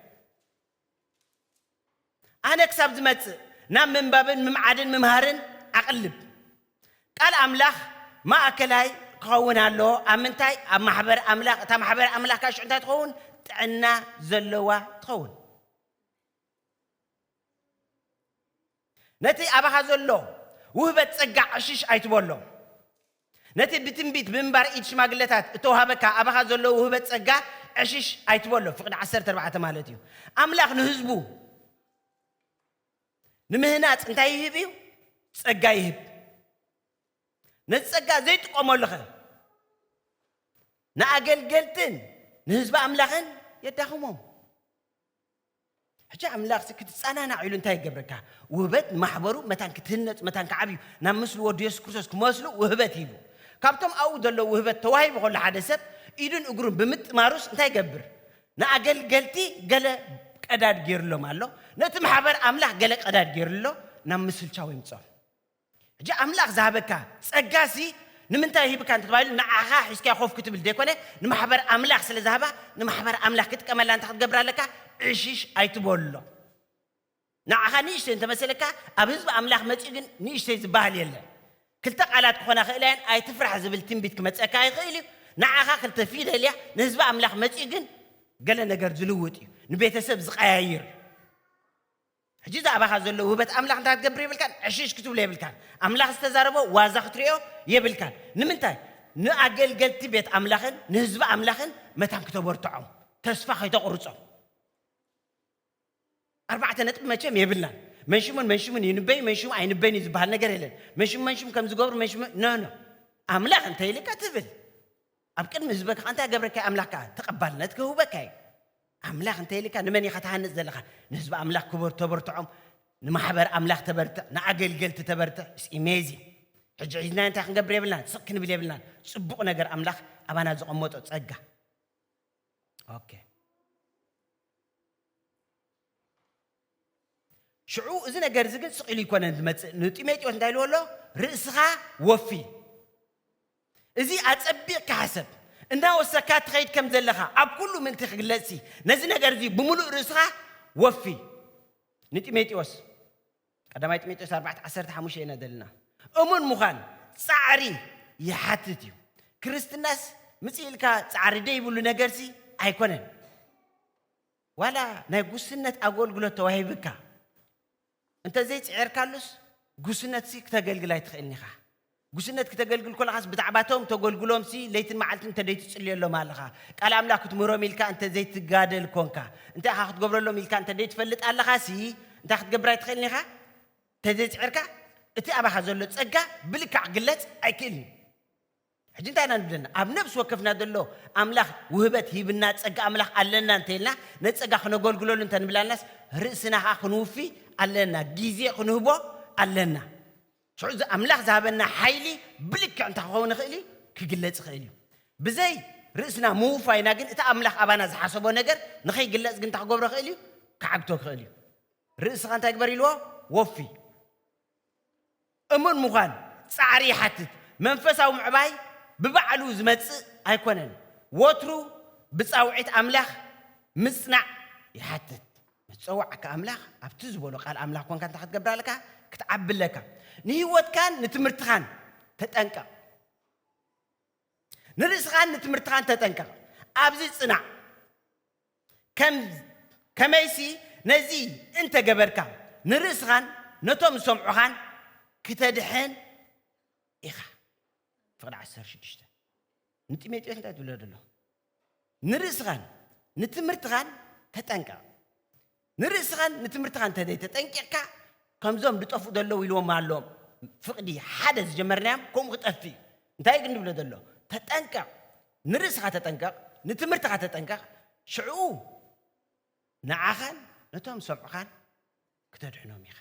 ኣነ ክሳብ ዝመጽእ ናብ ምንባብን ምምዓድን ምምሃርን ኣቕልብ። ቃል ኣምላኽ ማእከላይ ክኸውን ኣለዎ፣ ኣብ ምንታይ? ኣብ ማሕበር ኣምላኽ፣ እታ ማሕበር ኣምላኽ ከኣ ሽዑ እንታይ ትኸውን? ጥዕና ዘለዋ ትኸውን። ነቲ ኣባኻ ዘሎ ውህበት ጸጋ ዕሽሽ ኣይትበሎ። ነቲ ብትንቢት ብምንባር ኢድ ሽማግለታት እተዋህበካ ኣባኻ ዘሎ ውህበት ጸጋ ዕሽሽ ኣይትበሎ፣ ፍቕዲ ዓሰርተ ኣርባዕተ ማለት እዩ። ኣምላኽ ንህዝቡ ንምህናጽ እንታይ ይህብ እዩ? ጸጋ ይህብ። ነዚ ጸጋ ዘይጥቀመሉኸ ንኣገልገልትን ንህዝቢ ኣምላኽን የዳኽሞም። ሕጂ ኣምላኽሲ ክትጸናናዕ ኢሉ እንታይ ይገብረካ? ውህበት ንማሕበሩ መታን ክትህነጽ መታን ክዓብዩ ናብ ምስሊ ወዱ የሱስ ክርስቶስ ክመስሉ ውህበት ሂቡ። ካብቶም ኣብኡ ዘለዉ ውህበት ተዋሂቡ ከሎ ሓደ ሰብ ኢዱን እግሩን ብምጥማሩስ እንታይ ይገብር? ንኣገልገልቲ ገለ ቀዳድ ጌርሎም ኣሎ፣ ነቲ ማሕበር ኣምላኽ ገለ ቀዳድ ጌርሉ ኣሎ፣ ናብ ምስልቻው የምጽኦም። ሕጂ ኣምላኽ ዝሃበካ ጸጋሲ ንምንታይ ሂብካ እንተተባሂሉ ንዓኻ ሒዝካዮ ኮፍ ክትብል ዘይኮነ ንማሕበር ኣምላኽ ስለ ዝሃባ ንማሕበር ኣምላኽ ክጥቀመላ እንታይ ክትገብር ኣለካ ዕሽሽ ኣይትበሎ ንዓኻ ንእሽተይ እንተመሰለካ ኣብ ህዝቢ ኣምላኽ መጺኡ ግን ንእሽተይ ዝበሃል የለን ክልተ ቃላት ክኾና ክእላ እየን ኣይትፍራሕ ዝብል ትንቢት ክመጸካ ይኽእል እዩ ንዓኻ ክልተ ፊደል እያ ንህዝቢ ኣምላኽ መጺኡ ግን ገለ ነገር ዝልውጥ እዩ ንቤተሰብ ዝቀያይር እዩ ሕጂ እዚ ኣባኻ ዘሎ ውህበት ኣምላኽ እንታይ ክትገብር የብልካን? ዕሽሽ ክትብሎ የብልካን። ኣምላኽ ዝተዛረቦ ዋዛ ክትርእዮ የብልካን። ንምንታይ? ንኣገልገልቲ ቤት ኣምላኽን ንህዝቢ ኣምላኽን መታን ክተበርትዖም፣ ተስፋ ከይተቑርጾም። ኣርባዕተ ነጥቢ መቸም የብልናን። መንሽሙን መንሽሙን ይንበዩ መንሽሙ ኣይንበዩን እዩ ዝበሃል ነገር የለን። መንሽሙ መንሽሙ ከም ዝገብሩ መንሽሙ ኖ ኖ ኣምላኽ እንተይልካ ትብል ኣብ ቅድሚ ህዝበ ከኣ እንታይ ገብረካይ ኣምላኽ ከኣ ተቀባልነት ክህውበካ እዩ ኣምላኽ እንተ ኢልካ ንመን ኢኻ ትሃንጽ ዘለኻ ንህዝቢ ኣምላኽ ክበር ተበርትዖም ንማሕበር ኣምላኽ ተበርትዕ ንኣገልገልቲ ተበርትዕ ኢስ ኢሜዚንግ ሕጂ ሒዝናዮ እንታይ ክንገብር የብልናን ስቅ ክንብል የብልናን ጽቡቅ ነገር ኣምላኽ ኣባና ዘቀመጦ ጸጋ ኦኬ ሽዑ እዚ ነገር እዚ ግን ስቕ ኢሉ ይኮነን ዝመጽእ ንጢሞቴዎስ እንታይ ኢልዎ ኣሎ ርእስኻ ወፊ እዚ ኣጸቢቕካ ሓሰብ እናወሰካ ትኸይድ ከም ዘለኻ ኣብ ኩሉ ምእንቲ ክግለጽሲ ነዚ ነገር እዚ ብምሉእ ርእስኻ ወፊ ንጢሞቴዎስ ቀዳማይ ጢሞቴዎስ 4 15 ኢና ዘለና እሙን ምዃን ጻዕሪ ይሓትት እዩ ክርስትናስ ምጽእ ኢልካ ጻዕሪ ደይብሉ ነገርሲ ኣይኮነን ዋላ ናይ ጉስነት ኣጎልግሎት ተዋሂብካ እንተ ዘይጽዒርካሉስ ጉስነትሲ ክተገልግል ኣይትኽእልን ኢኻ። ጉስነት ክተገልግል ኮለኻስ ብዛዕባቶም ተጎልግሎምሲ ለይትን መዓልትን እንተ ደይትጽልዮሎም ኣለኻ፣ ቃል ኣምላኽ ክትምህሮም ኢልካ እንተ ዘይትጋደል ኮንካ፣ እንታይ ኢኻ ክትገብረሎም ኢልካ እንተ ደይትፈልጥ ኣለኻሲ እንታይ ክትገብር ኣይትኽእልን ኢኻ። እንተ ዘይጽዒርካ እቲ ኣባኻ ዘሎ ጸጋ ብልክዕ ክግለጽ ኣይክእልን እዩ። ሕጂ እንታይ ኢና ንብለና ኣብ ነብሲ ወከፍና ዘሎ ኣምላኽ ውህበት ሂብና ጸጋ ኣምላኽ ኣለና እንተ ኢልና ነቲ ጸጋ ክነገልግለሉ እንተ ንብላናስ ርእስና ከኣ ክንውፊ ኣለና ግዜ ክንህቦ ኣለና ሽዑ እዚ ኣምላኽ ዝሃበና ሓይሊ ብልክዕ እንታይ ክኸውን ይኽእል እዩ ክግለጽ ይኽእል እዩ ብዘይ ርእስና ምውፋይና ግን እቲ ኣምላኽ ኣባና ዝሓሰቦ ነገር ንኸይግለጽ ግን እንታይ ክገብሮ ይኽእል እዩ ክዓግቶ ክኽእል እዩ ርእስኻ እንታይ ግበር ኢልዎ ወፊ እሙን ምዃን ጻዕሪ ይሓትት። መንፈሳዊ ምዕባይ ብባዕሉ ዝመጽእ ኣይኰነን፣ ወትሩ ብጻውዒት ኣምላኽ ምጽናዕ ይሓትት። ምስ ዝጸውዓካ ኣምላኽ ኣብቲ ዝበሎ ቃል ኣምላኽ ኰንካ እንታይ ክትገብር ኣለካ? ክትዓቢ ኣለካ። ንህይወትካን ንትምህርትኻን ተጠንቀቕ። ንርእስኻን ንትምህርትኻን ተጠንቀቕ፣ ኣብዚ ጽናዕ፣ ከም ከመይሲ ነዚ እንተ ገበርካ፣ ንርእስኻን ነቶም ዝሰምዑኻን ክተድሕን ኢኻ። ፍቕዲ ዓሰርተ ሽዱሽተ ንጢሞቴዎስ እንታይ ትብሎ ደለኹ? ንርእስኻን ንትምህርትኻን ተጠንቀቕ። ንርእስኻን ንትምህርትኻን እንተ ዘይተጠንቂቕካ ከምዞም ዝጠፍኡ ዘለዉ ኢልዎም ኣሎ ፍቕዲ ሓደ ዝጀመርናዮም ከምኡ ክጠፍእ እዩ እንታይ ግን ንብሎ ዘሎ ተጠንቀቕ ንርእስኻ ተጠንቀቕ ንትምህርትኻ ተጠንቀቕ ሽዕኡ ንዓኻን ነቶም ሰምዑኻን ክተድሕኖም ኢኻ።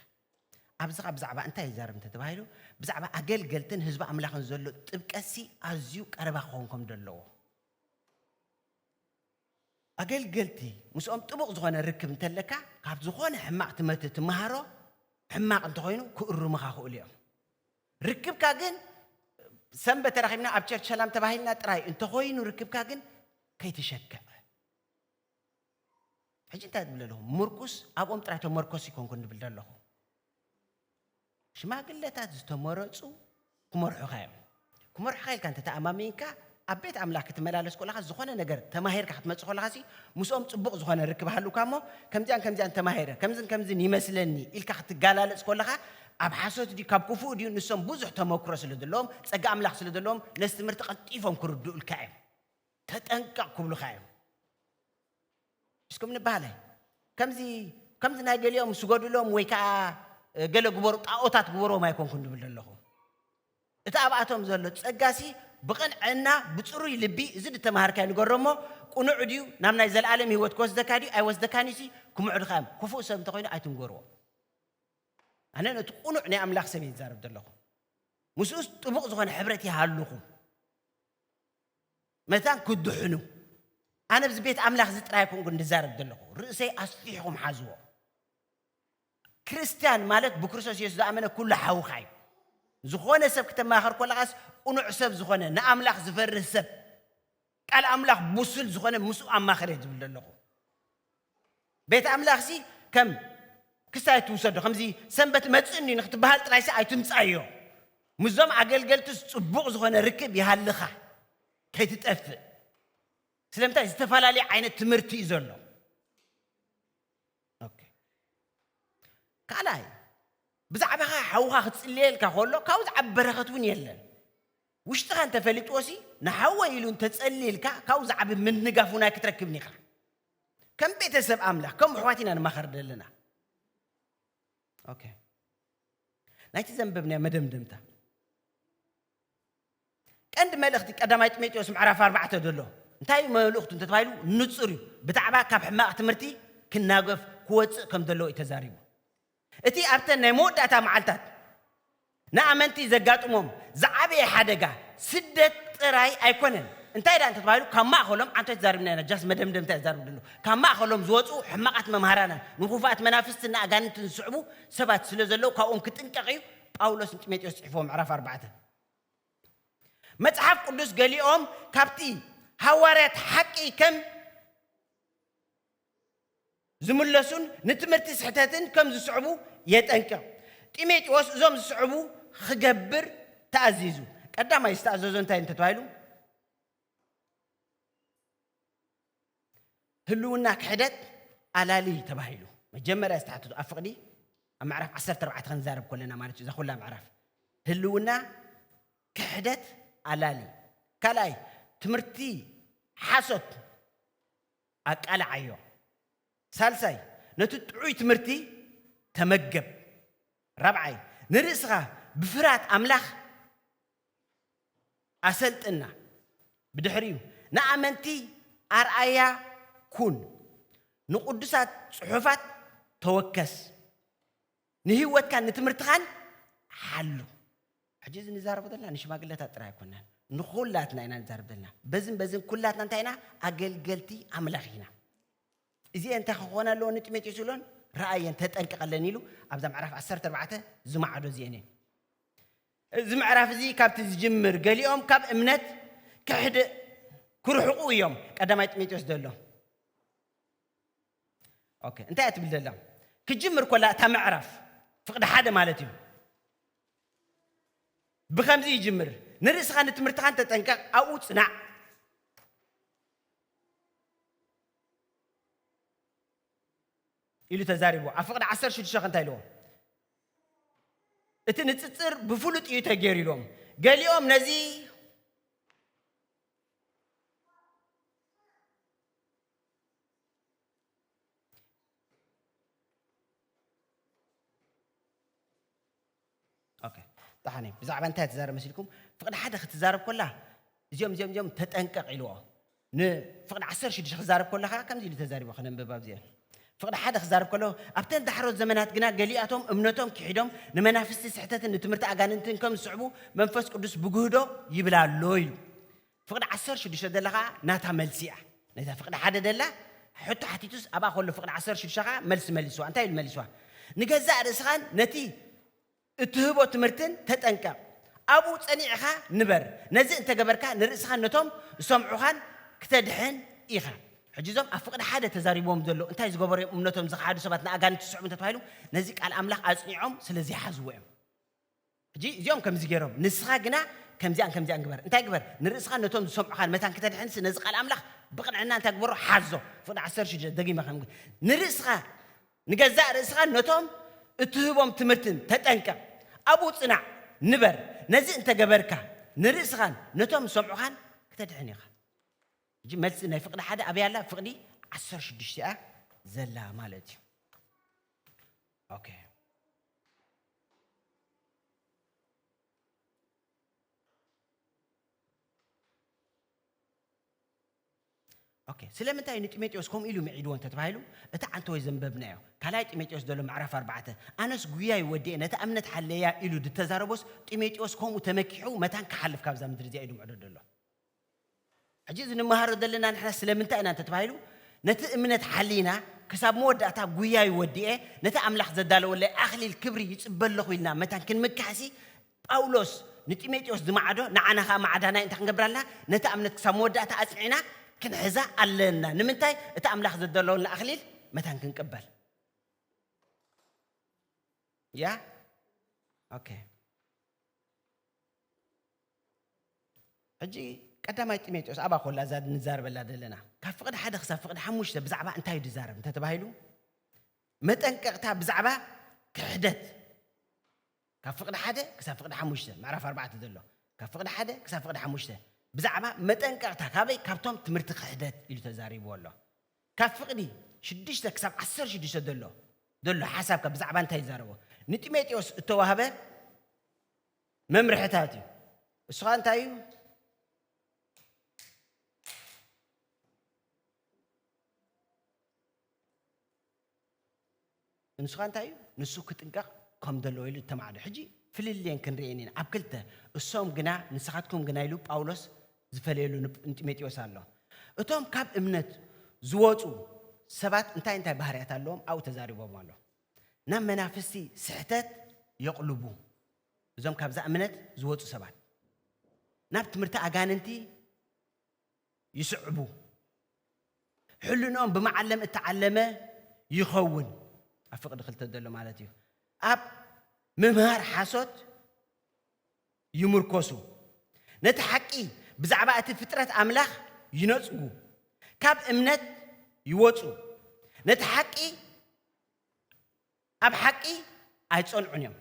ኣብዚ ኸኣ ብዛዕባ እንታይ ይዛረብ እንተ ተባሂሉ፣ ብዛዕባ ኣገልገልትን ህዝቢ ኣምላኽን ዘሎ ጥብቀትሲ ኣዝዩ ቀረባ ክኸውን ከም ዘለዎ። ኣገልገልቲ ምስኦም ጥቡቕ ዝኾነ ርክብ እንተ ኣለካ፣ ካብ ዝኾነ ሕማቕ ትምህርቲ ትመሃሮ፣ ሕማቕ እንተ ኾይኑ ክእርሙኻ ክእሉ እዮም። ርክብካ ግን ሰንበት ተራኺብና ኣብ ቸርች ሰላም ተባሂልና ጥራይ እንተ ኾይኑ ርክብካ ግን ከይትሸክዕ ሕጂ እንታይ ትብል ዘለኹ ምርኩስ ኣብኦም ጥራይ ተመርኮስ ይኮንኩን ዝብል ዘለኹ ሽማግለታት ዝተመረጹ ክመርሑኻ እዮም ክመርሑኻ ኢልካ እንተተኣማሚንካ ኣብ ቤት ኣምላኽ ክትመላለስ ኮለኻ ዝኾነ ነገር ተማሂርካ ክትመጽእ ኮለኻ ሲ ምስኦም ጽቡቕ ዝኾነ ርክብ ሃሉካ እሞ ከምዚያን ከምዚያን ተማሂረ ከምዝን ከምዝን ይመስለኒ ኢልካ ክትጋላለጽ ኮለኻ ኣብ ሓሶት ድዩ ካብ ክፉእ ድዩ ንሶም ብዙሕ ተመክሮ ስለ ዘለዎም ጸጋ ኣምላኽ ስለ ዘለዎም ነዚ ትምህርቲ ቀልጢፎም ክርድኡልካ እዮም ተጠንቀቕ ክብሉኻ እዮም እስኩም ንባህለ ከምዚ ከምዚ ናይ ገሊኦም ስገዱሎም ወይ ከዓ ገለ ግበሩ ጣዖታት ግበሮም ኣይኮንኩን ድብል ዘለኹ እቲ ኣብኣቶም ዘሎ ጸጋሲ ብቕንዕና ብፅሩይ ልቢ እዚ ድተማሃርካዮ ንገሮ እሞ ቁኑዕ ድዩ ናብ ናይ ዘለኣለም ህይወት ክወስደካ ድዩ ኣይወስደካን እዩሲ ክምዕዱኻ እዮም ክፉእ ሰብ እንተኮይኑ ኣይትንገርዎ ኣነ ነቲ ቁኑዕ ናይ ኣምላኽ ሰብ እየ ዝዛረብ ዘለኹ ምስኡስ ጥቡቕ ዝኾነ ሕብረት ይሃልኹ መታን ክድሕኑ ኣነ ብዚ ቤት ኣምላኽ እዚ ጥራይ ኣይኮንኩ እንድዛረብ ዘለኹ ርእሰይ ኣስፊሕኹም ሓዝዎ ክርስትያን ማለት ብክርስቶስ የሱስ ዝኣመነ ኩሉ ሓውኻ እዩ ዝኾነ ሰብ ክተማኸር ኮለኻስ ቁኑዕ ሰብ ዝኾነ ንኣምላኽ ዝፈርህ ሰብ ቃል ኣምላኽ ቡሱል ዝኾነ ምስኡ ኣማኸር እየ ዝብል ዘለኹ ቤት ኣምላኽሲ ከም ክስታይ ኣይትውሰዶ፣ ከምዚ ሰንበት እመጽእን እዩ ንኽትበሃል ጥራይሲ ኣይትምጻዮ። ምስዞም ኣገልገልትስ ጽቡቕ ዝኾነ ርክብ ይሃልኻ፣ ከይትጠፍእ። ስለምንታይ? ዝተፈላለየ ዓይነት ትምህርቲ እዩ ዘሎ። ካልኣይ ብዛዕባኻ ሓውኻ ክትጽልየልካ ከሎ ካብኡ ዝዓብ በረኸት እውን የለን ውሽጥኻ እንተፈሊጥዎሲ ንሓወ ኢሉ እንተጸልልካ ካብኡ ዝዓብ ምንጋፍ እውን ኣይክትረክብን ኢኻ ከም ቤተሰብ ኣምላኽ ከም ኣሕዋት ኢና ንማኸር ዘለና ኦኬ ናይቲ ዘንበብናዮ መደምደምታ ቀንዲ መልእኽቲ ቀዳማይ ጢሞቴዎስ ምዕራፍ ኣርባዕተ ዘሎ እንታይ እዩ መልእኽቱ እንተተባሂሉ ንፁር እዩ ብዛዕባ ካብ ሕማቕ ትምህርቲ ክናገፍ ክወፅእ ከም ዘለዎ እዩ ተዛሪቡ እቲ ኣብተን ናይ መወዳእታ መዓልታት ንኣመንቲ ዘጋጥሞም ዝዓበየ ሓደጋ ስደት ጥራይ ኣይኮነን። እንታይ ደኣ እንተ ተባሂሉ ካብ ማእከሎም ኣንታይ ተዛሪብና ኢና ጃስ መደምደምታ እየ ዝዛረብ ደለኹ ካብ ማእከሎም ዝወጽኡ ሕማቓት መምሃራንን ንኹፉኣት መናፍስትን ንኣጋንንትን ዝስዕቡ ሰባት ስለ ዘለዉ ካብኦም ክጥንቀቕ እዩ ጳውሎስ ንጢሞቴዎስ ጽሒፍዎ ምዕራፍ ኣርባዕተ መጽሓፍ ቅዱስ ገሊኦም ካብቲ ሃዋርያት ሓቂ ከም ዝምለሱን ንትምህርቲ ስሕተትን ከም ዝስዕቡ የጠንቅቕ። ጢሞቴዎስ እዞም ዝስዕቡ ኽገብር ተኣዚዙ። ቀዳማይ ዝተኣዘዞ እንታይ እንተ ተባሂሉ? ህልውና ክሕደት ኣላሊ ተባሂሉ መጀመርያ ዝተሓተቱ ኣብ ፍቕዲ ኣብ ምዕራፍ 14 ክንዛረብ ኮለና ማለት እዩ እዛ ኩላ ምዕራፍ ህልውና ክሕደት ኣላሊ ካልኣይ ትምህርቲ ሓሶት ኣቃልዓዮ። ሳልሳይ፣ ነቲ ጥዑይ ትምህርቲ ተመገብ። ራብዓይ፣ ንርእስኻ ብፍርሃት ኣምላኽ ኣሰልጥና። ብድሕሪኡ፣ ንኣመንቲ ኣርኣያ ኩን። ንቕዱሳት ጽሑፋት ተወከስ። ንህይወትካን ንትምህርትኻን ሓሉ። ሕጂ እዚ ንዛረቦ ዘለና ንሽማግለታት ጥራይ ኣይኮናን፣ ንኹላትና ኢና ንዛረብ ዘለና። በዝን በዝን ኩላትና እንታይ ኢና? ኣገልገልቲ ኣምላኽ ኢና። እዚኤ እንታይ ክኾነ ኣለዎ ንጢሞቴዎስ ይብሎን ረኣየን ተጠንቀቐለን ኢሉ ኣብዛ ምዕራፍ 14 ዝማዕዶ እዚኤን እየን። እዚ ምዕራፍ እዚ ካብቲ ዝጅምር ገሊኦም ካብ እምነት ክሕድ ክርሕቑ እዮም ቀዳማይ ጢሞቴዎስ ዘሎ ኦኬ እንታይ እያ ትብል ዘላ ክጅምር ኮላ እታ ምዕራፍ ፍቕዲ ሓደ ማለት እዩ ብከምዚ ይጅምር ንርእስኻ ንትምህርትኻን ተጠንቀቕ ኣብኡ ፅናዕ ኢሉ ተዛሪቡ ኣብ ፍቕዲ 16 እንታይ ኢልዎ እቲ ንፅፅር ብፍሉጥ እዩ ተገይሩ ኢሎም ገሊኦም ነዚ ኦኬ ደሓን እዩ ብዛዕባ እንታይ ትዛረብ መሲልኩም ፍቕዲ ሓደ ክትዛረብ ኮላ እዚኦም እዚኦም እዚኦም ተጠንቀቕ ኢልዎ ንፍቕዲ ዓሰር ሽዱሽተ ክዛረብ ኮላ ከዓ ከምዚ ኢሉ ተዛሪቦ ከነንብብ ኣብዚኦም ፍቕዲ ሓደ ክዛረብ ከሎ ኣብተን ዳሕሮት ዘመናት ግና ገሊኣቶም እምነቶም ክሒዶም ንመናፍስቲ ስሕተትን ንትምህርቲ ኣጋንንትን ከም ዝስዕቡ መንፈስ ቅዱስ ብግህዶ ይብላ ኣሎ ኢሉ ፍቕዲ ዓሰርተ ሽዱሽተ ደላ ከኣ ናታ መልሲ እያ ነታ ፍቕዲ ሓደ ደላ ሕቶ ሓቲቱስ ኣብኣ ከሎ ፍቕዲ ዓሰርተ ሽዱሽተ ከኣ መልሲ መሊስዋ እንታይ ኢሉ መሊስዋ ንገዛእ ርእስኻን ነቲ እትህቦ ትምህርትን ተጠንቀቕ ኣብኡ ጸኒዕኻ ንበር ነዚ እንተገበርካ ንርእስኻን ነቶም ዝሰምዑኻን ክተድሕን ኢኻ ሕጂ እዞም ኣብ ፍቕዲ ሓደ ተዛሪብዎም ዘሎ እንታይ ዝገበሩ እዮም እምነቶም ዝኸሓዱ ሰባት ንኣጋንንቲ ዝስዕቡ እንተተባሂሉ ነዚ ቃል ኣምላኽ ኣጽኒዖም ስለ ዘይሓዝዎ እዮም ሕጂ እዚኦም ከምዚ ገይሮም፣ ንስኻ ግና ከምዚኣን ከምዚኣን ግበር። እንታይ ግበር? ንርእስኻን ነቶም ዚሰምዑኻን መታን ክተድሕንሲ፣ ነዚ ቓል ኣምላኽ ብቕንዕና እንታይ ግበሮ? ሓዞ። ፍቕዲ ዓሰርተ ሽዱሽተ፣ ደጊመ ኸም። ንርእስኻ፣ ንገዛእ ርእስኻን ነቶም እትህቦም ትምህርትን ተጠንቀቕ፣ ኣብኡ ጽናዕ፣ ንበር። ነዚ እንተ ገበርካ፣ ንርእስኻን ነቶም ዚሰምዑኻን ክተድሕን ኢኻ። ሕጂ መልሲ ናይ ፍቕዲ ሓደ ኣበይ ኣላ? ፍቕዲ ዓሰርተ ሽዱሽተ እያ ዘላ ማለት እዩ። ኦኬ። ኦኬ ስለምንታይ እዩ ንጢሞቴዎስ ከምኡ ኢሉ ምዒድዎ እንተተባሂሉ እቲ ዓንተወ ዘንበብናዮ ካልኣይ ጢሞቴዎስ ዘሎ ምዕራፍ ኣርባዕተ ኣነስ ጉያይ ወዲኤ ነታ እምነት ሓለያ ኢሉ ድተዛረቦስ ጢሞቴዎስ ከምኡ ተመኪሑ መታን ክሓልፍ ካብዛ ምድሪ እዚኣ ኢሉ ምዕዶ ደሎ ሕጂ እዚ ንመሃሮ ዘለና ንሕና ስለምንታይ ኢና እንተተባሂሉ ነቲ እምነት ሓሊና ክሳብ መወዳእታ ጉያይ ወዲኤ ነቲ ኣምላኽ ዘዳለወለይ ኣኽሊል ክብሪ ይጽበ ኣለኹ ኢልና መታን ክንምካሕሲ ጳውሎስ ንጢሞቴዎስ ዝመዓዶ ንዓና ከኣ ማዕዳናይ እንታይ ክንገብር ኣለና ነታ እምነት ክሳብ መወዳእታ ኣጽኒዕና ክንሕዛ ኣለና ንምንታይ እቲ ኣምላኽ ዘዳለወልና ኣኽሊል መታን ክንቅበል ያ ኦኬ ሕጂ ቀዳማይ ጢሞቴዎስ ኣብኣ ኮላ እዛ ንዛረበላ ዘለና ካብ ፍቕዲ ሓደ ክሳብ ፍቕዲ ሓሙሽተ ብዛዕባ እንታይ እዩ ዝዛረብ እንተተባሂሉ መጠንቀቕታ ብዛዕባ ክሕደት ካብ ፍቕዲ ሓደ ክሳብ ፍቕዲ ሓሙሽተ ምዕራፍ ኣርባዕተ ዘሎ ካብ ፍቕዲ ሓደ ክሳብ ፍቕዲ ሓሙሽተ ብዛዕባ መጠንቀቕታ ካበይ ካብቶም ትምህርቲ ክሕደት ኢሉ ተዛሪብዎ ኣሎ ካብ ፍቕዲ ሽዱሽተ ክሳብ ዓሰር ሽዱሽተ ዘሎ ዘሎ ሓሳብ ካብ ብዛዕባ እንታይ ይዛረቦ ንጢሞቴዎስ እተዋህበ መምርሕታት እዩ እሱ ኸ እንታይ እዩ ንሱ ኸ እንታይ እዩ ንሱ ክጥንቀቕ ከም ዘለዎ ኢሉ እተማዕዶ ሕጂ ፍልልየን ክንርኤን ኢና ኣብ ክልተ እሶም ግና ንስኻትኩም ግና ኢሉ ጳውሎስ ዝፈለየሉ ንጢሞቴዎስ ኣሎ እቶም ካብ እምነት ዝወፁ ሰባት እንታይ እንታይ ባህርያት ኣለዎም ኣብኡ ተዛሪቦም ኣሎ ናብ መናፍስቲ ስሕተት የቕልቡ። እዞም ካብዛ እምነት ዝወጹ ሰባት ናብ ትምህርቲ ኣጋንንቲ ይስዕቡ። ሕልንኦም ብመዓለም እተዓለመ ይኸውን። ኣብ ፍቕዲ ክልተ ዘሎ ማለት እዩ። ኣብ ምምሃር ሓሶት ይምርኰሱ፣ ነቲ ሓቂ ብዛዕባ እቲ ፍጥረት ኣምላኽ ይነጽጉ፣ ካብ እምነት ይወጹ፣ ነቲ ሓቂ ኣብ ሓቂ ኣይጸንዑን እዮም።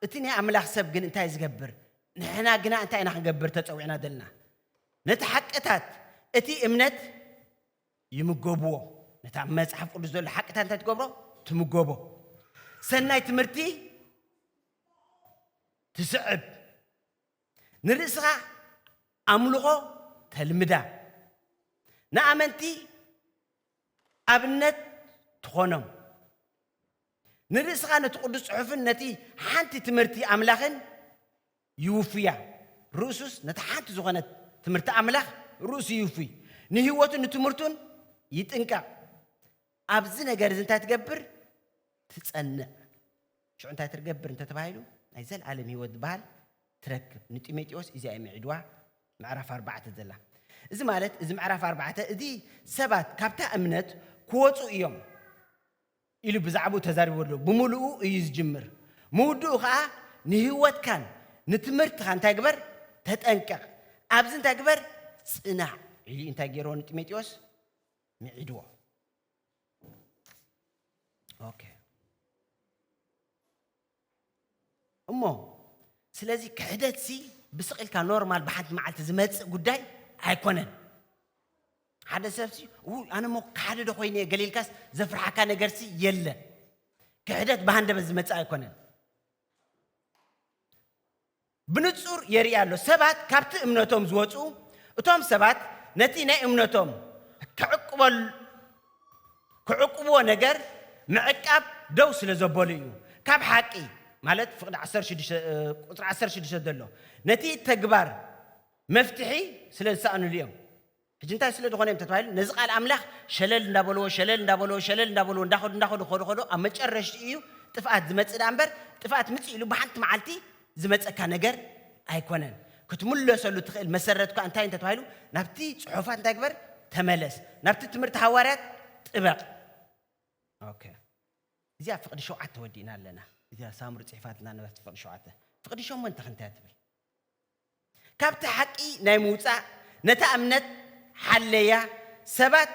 እቲ ናይ ኣምላኽ ሰብ ግን እንታይ ዝገብር? ንሕና ግና እንታይ ኢና ክንገብር ተጸዊዕና ዘለና? ነቲ ሓቅታት እቲ እምነት ይምገብዎ። ነታ መጽሓፍ ቅዱስ ዘሎ ሓቅታት እንታይ ትገብሮ? ትምገቦ። ሰናይ ትምህርቲ ትስዕብ፣ ንርእስኻ ኣምልኾ ተልምዳ፣ ንኣመንቲ ኣብነት ትኾኖም፣ ንርእስኻ ነቲ ቅዱስ ጽሑፍን ነቲ ሓንቲ ትምህርቲ ኣምላኽን ይውፍያ፣ ርእሱስ ነቲ ሓንቲ ዝኾነት ትምህርቲ ኣምላኽ ርእሱ ይውፍይ፣ ንህይወቱን ንትምህርቱን ይጥንቀቕ፣ ኣብዚ ነገር እዚ እንታይ ትገብር ትጸንዕ። ሽዑ እንታይ ትርገብር እንተ ተባሂሉ፣ ናይ ዘለኣለም ህይወት ዝበሃል ትረክብ። ንጢሞጢዎስ እዚኣ እዩ ምዒድዋ፣ ምዕራፍ ኣርባዕተ ዘላ። እዚ ማለት እዚ ምዕራፍ ኣርባዕተ እዚ ሰባት ካብታ እምነት ክወጹ እዮም ኢሉ ብዛዕባኡ ተዛሪቡ ኣሎ። ብምሉኡ እዩ ዝጅምር። ምውድኡ ከኣ ንህይወትካን ንትምህርትኻ እንታይ ግበር? ተጠንቀቕ። ኣብዚ እንታይ ግበር? ጽናዕ ኢሉ እንታይ ገይርዎ ንጢሞጢዎስ? ምዒድዎ። ኦኬ እሞ ስለዚ ክሕደት ሲ ብስቕ ኢልካ ኖርማል ብሓንቲ መዓልቲ ዝመፅእ ጉዳይ ኣይኮነን ሓደ ሰብ ሲ ኣነ ሞ ሓደ ዶ ኮይነ እየ ገሊልካስ ዘፍርሓካ ነገር ሲ የለ ክሕደት ብሃንደበት ዝመፅእ ኣይኮነን ብንጹር የርኢ ኣሎ። ሰባት ካብቲ እምነቶም ዝወጽኡ፣ እቶም ሰባት ነቲ ናይ እምነቶም ክዕቅብዎ ነገር ምዕቃብ ደው ስለ ዘበሉ እዩ። ካብ ሓቂ፣ ማለት ፍቕዲ ዓሰርተ ሽዱሽተ ቁጽሪ ዓሰርተ ሽዱሽተ ዘሎ፣ ነቲ ተግባር መፍትሒ ስለ ዝሰኣንሉ እዮም። ሕጂ እንታይ ስለ ዝኾነ እዮም ተተባሂሉ ነዚ ቃል ኣምላኽ ሸለል እንዳበልዎ ሸለል እንዳበልዎ ሸለል እንዳበልዎ እንዳኸዱ እንዳኸዱ ክኸዱ ከሎ ኣብ መጨረሽትኡ እዩ ጥፍኣት ዝመጽእ ደኣ እምበር ጥፍኣት ምጽእ ኢሉ ብሓንቲ መዓልቲ ዝመጸካ ነገር ኣይኮነን። ክትምለሰሉ እትኽእል መሰረት እኳ እንታይ እንተ ተባሂሉ ናብቲ ጽሑፋት እንታይ ግበር ተመለስ ናብቲ ትምህርቲ ሃዋርያት ጥበቕ ኦኬ እዚኣ ፍቕዲ ሸውዓተ ወዲእና ኣለና እዚኣ ሳምሩ ጽሒፋትና ነበርቲ ፍቕዲ ሸውዓተ ፍቕዲ ሸሞንተ ክንታይ ትብል ካብቲ ሓቂ ናይ ምውጻእ ነታ እምነት ሓለያ ሰባት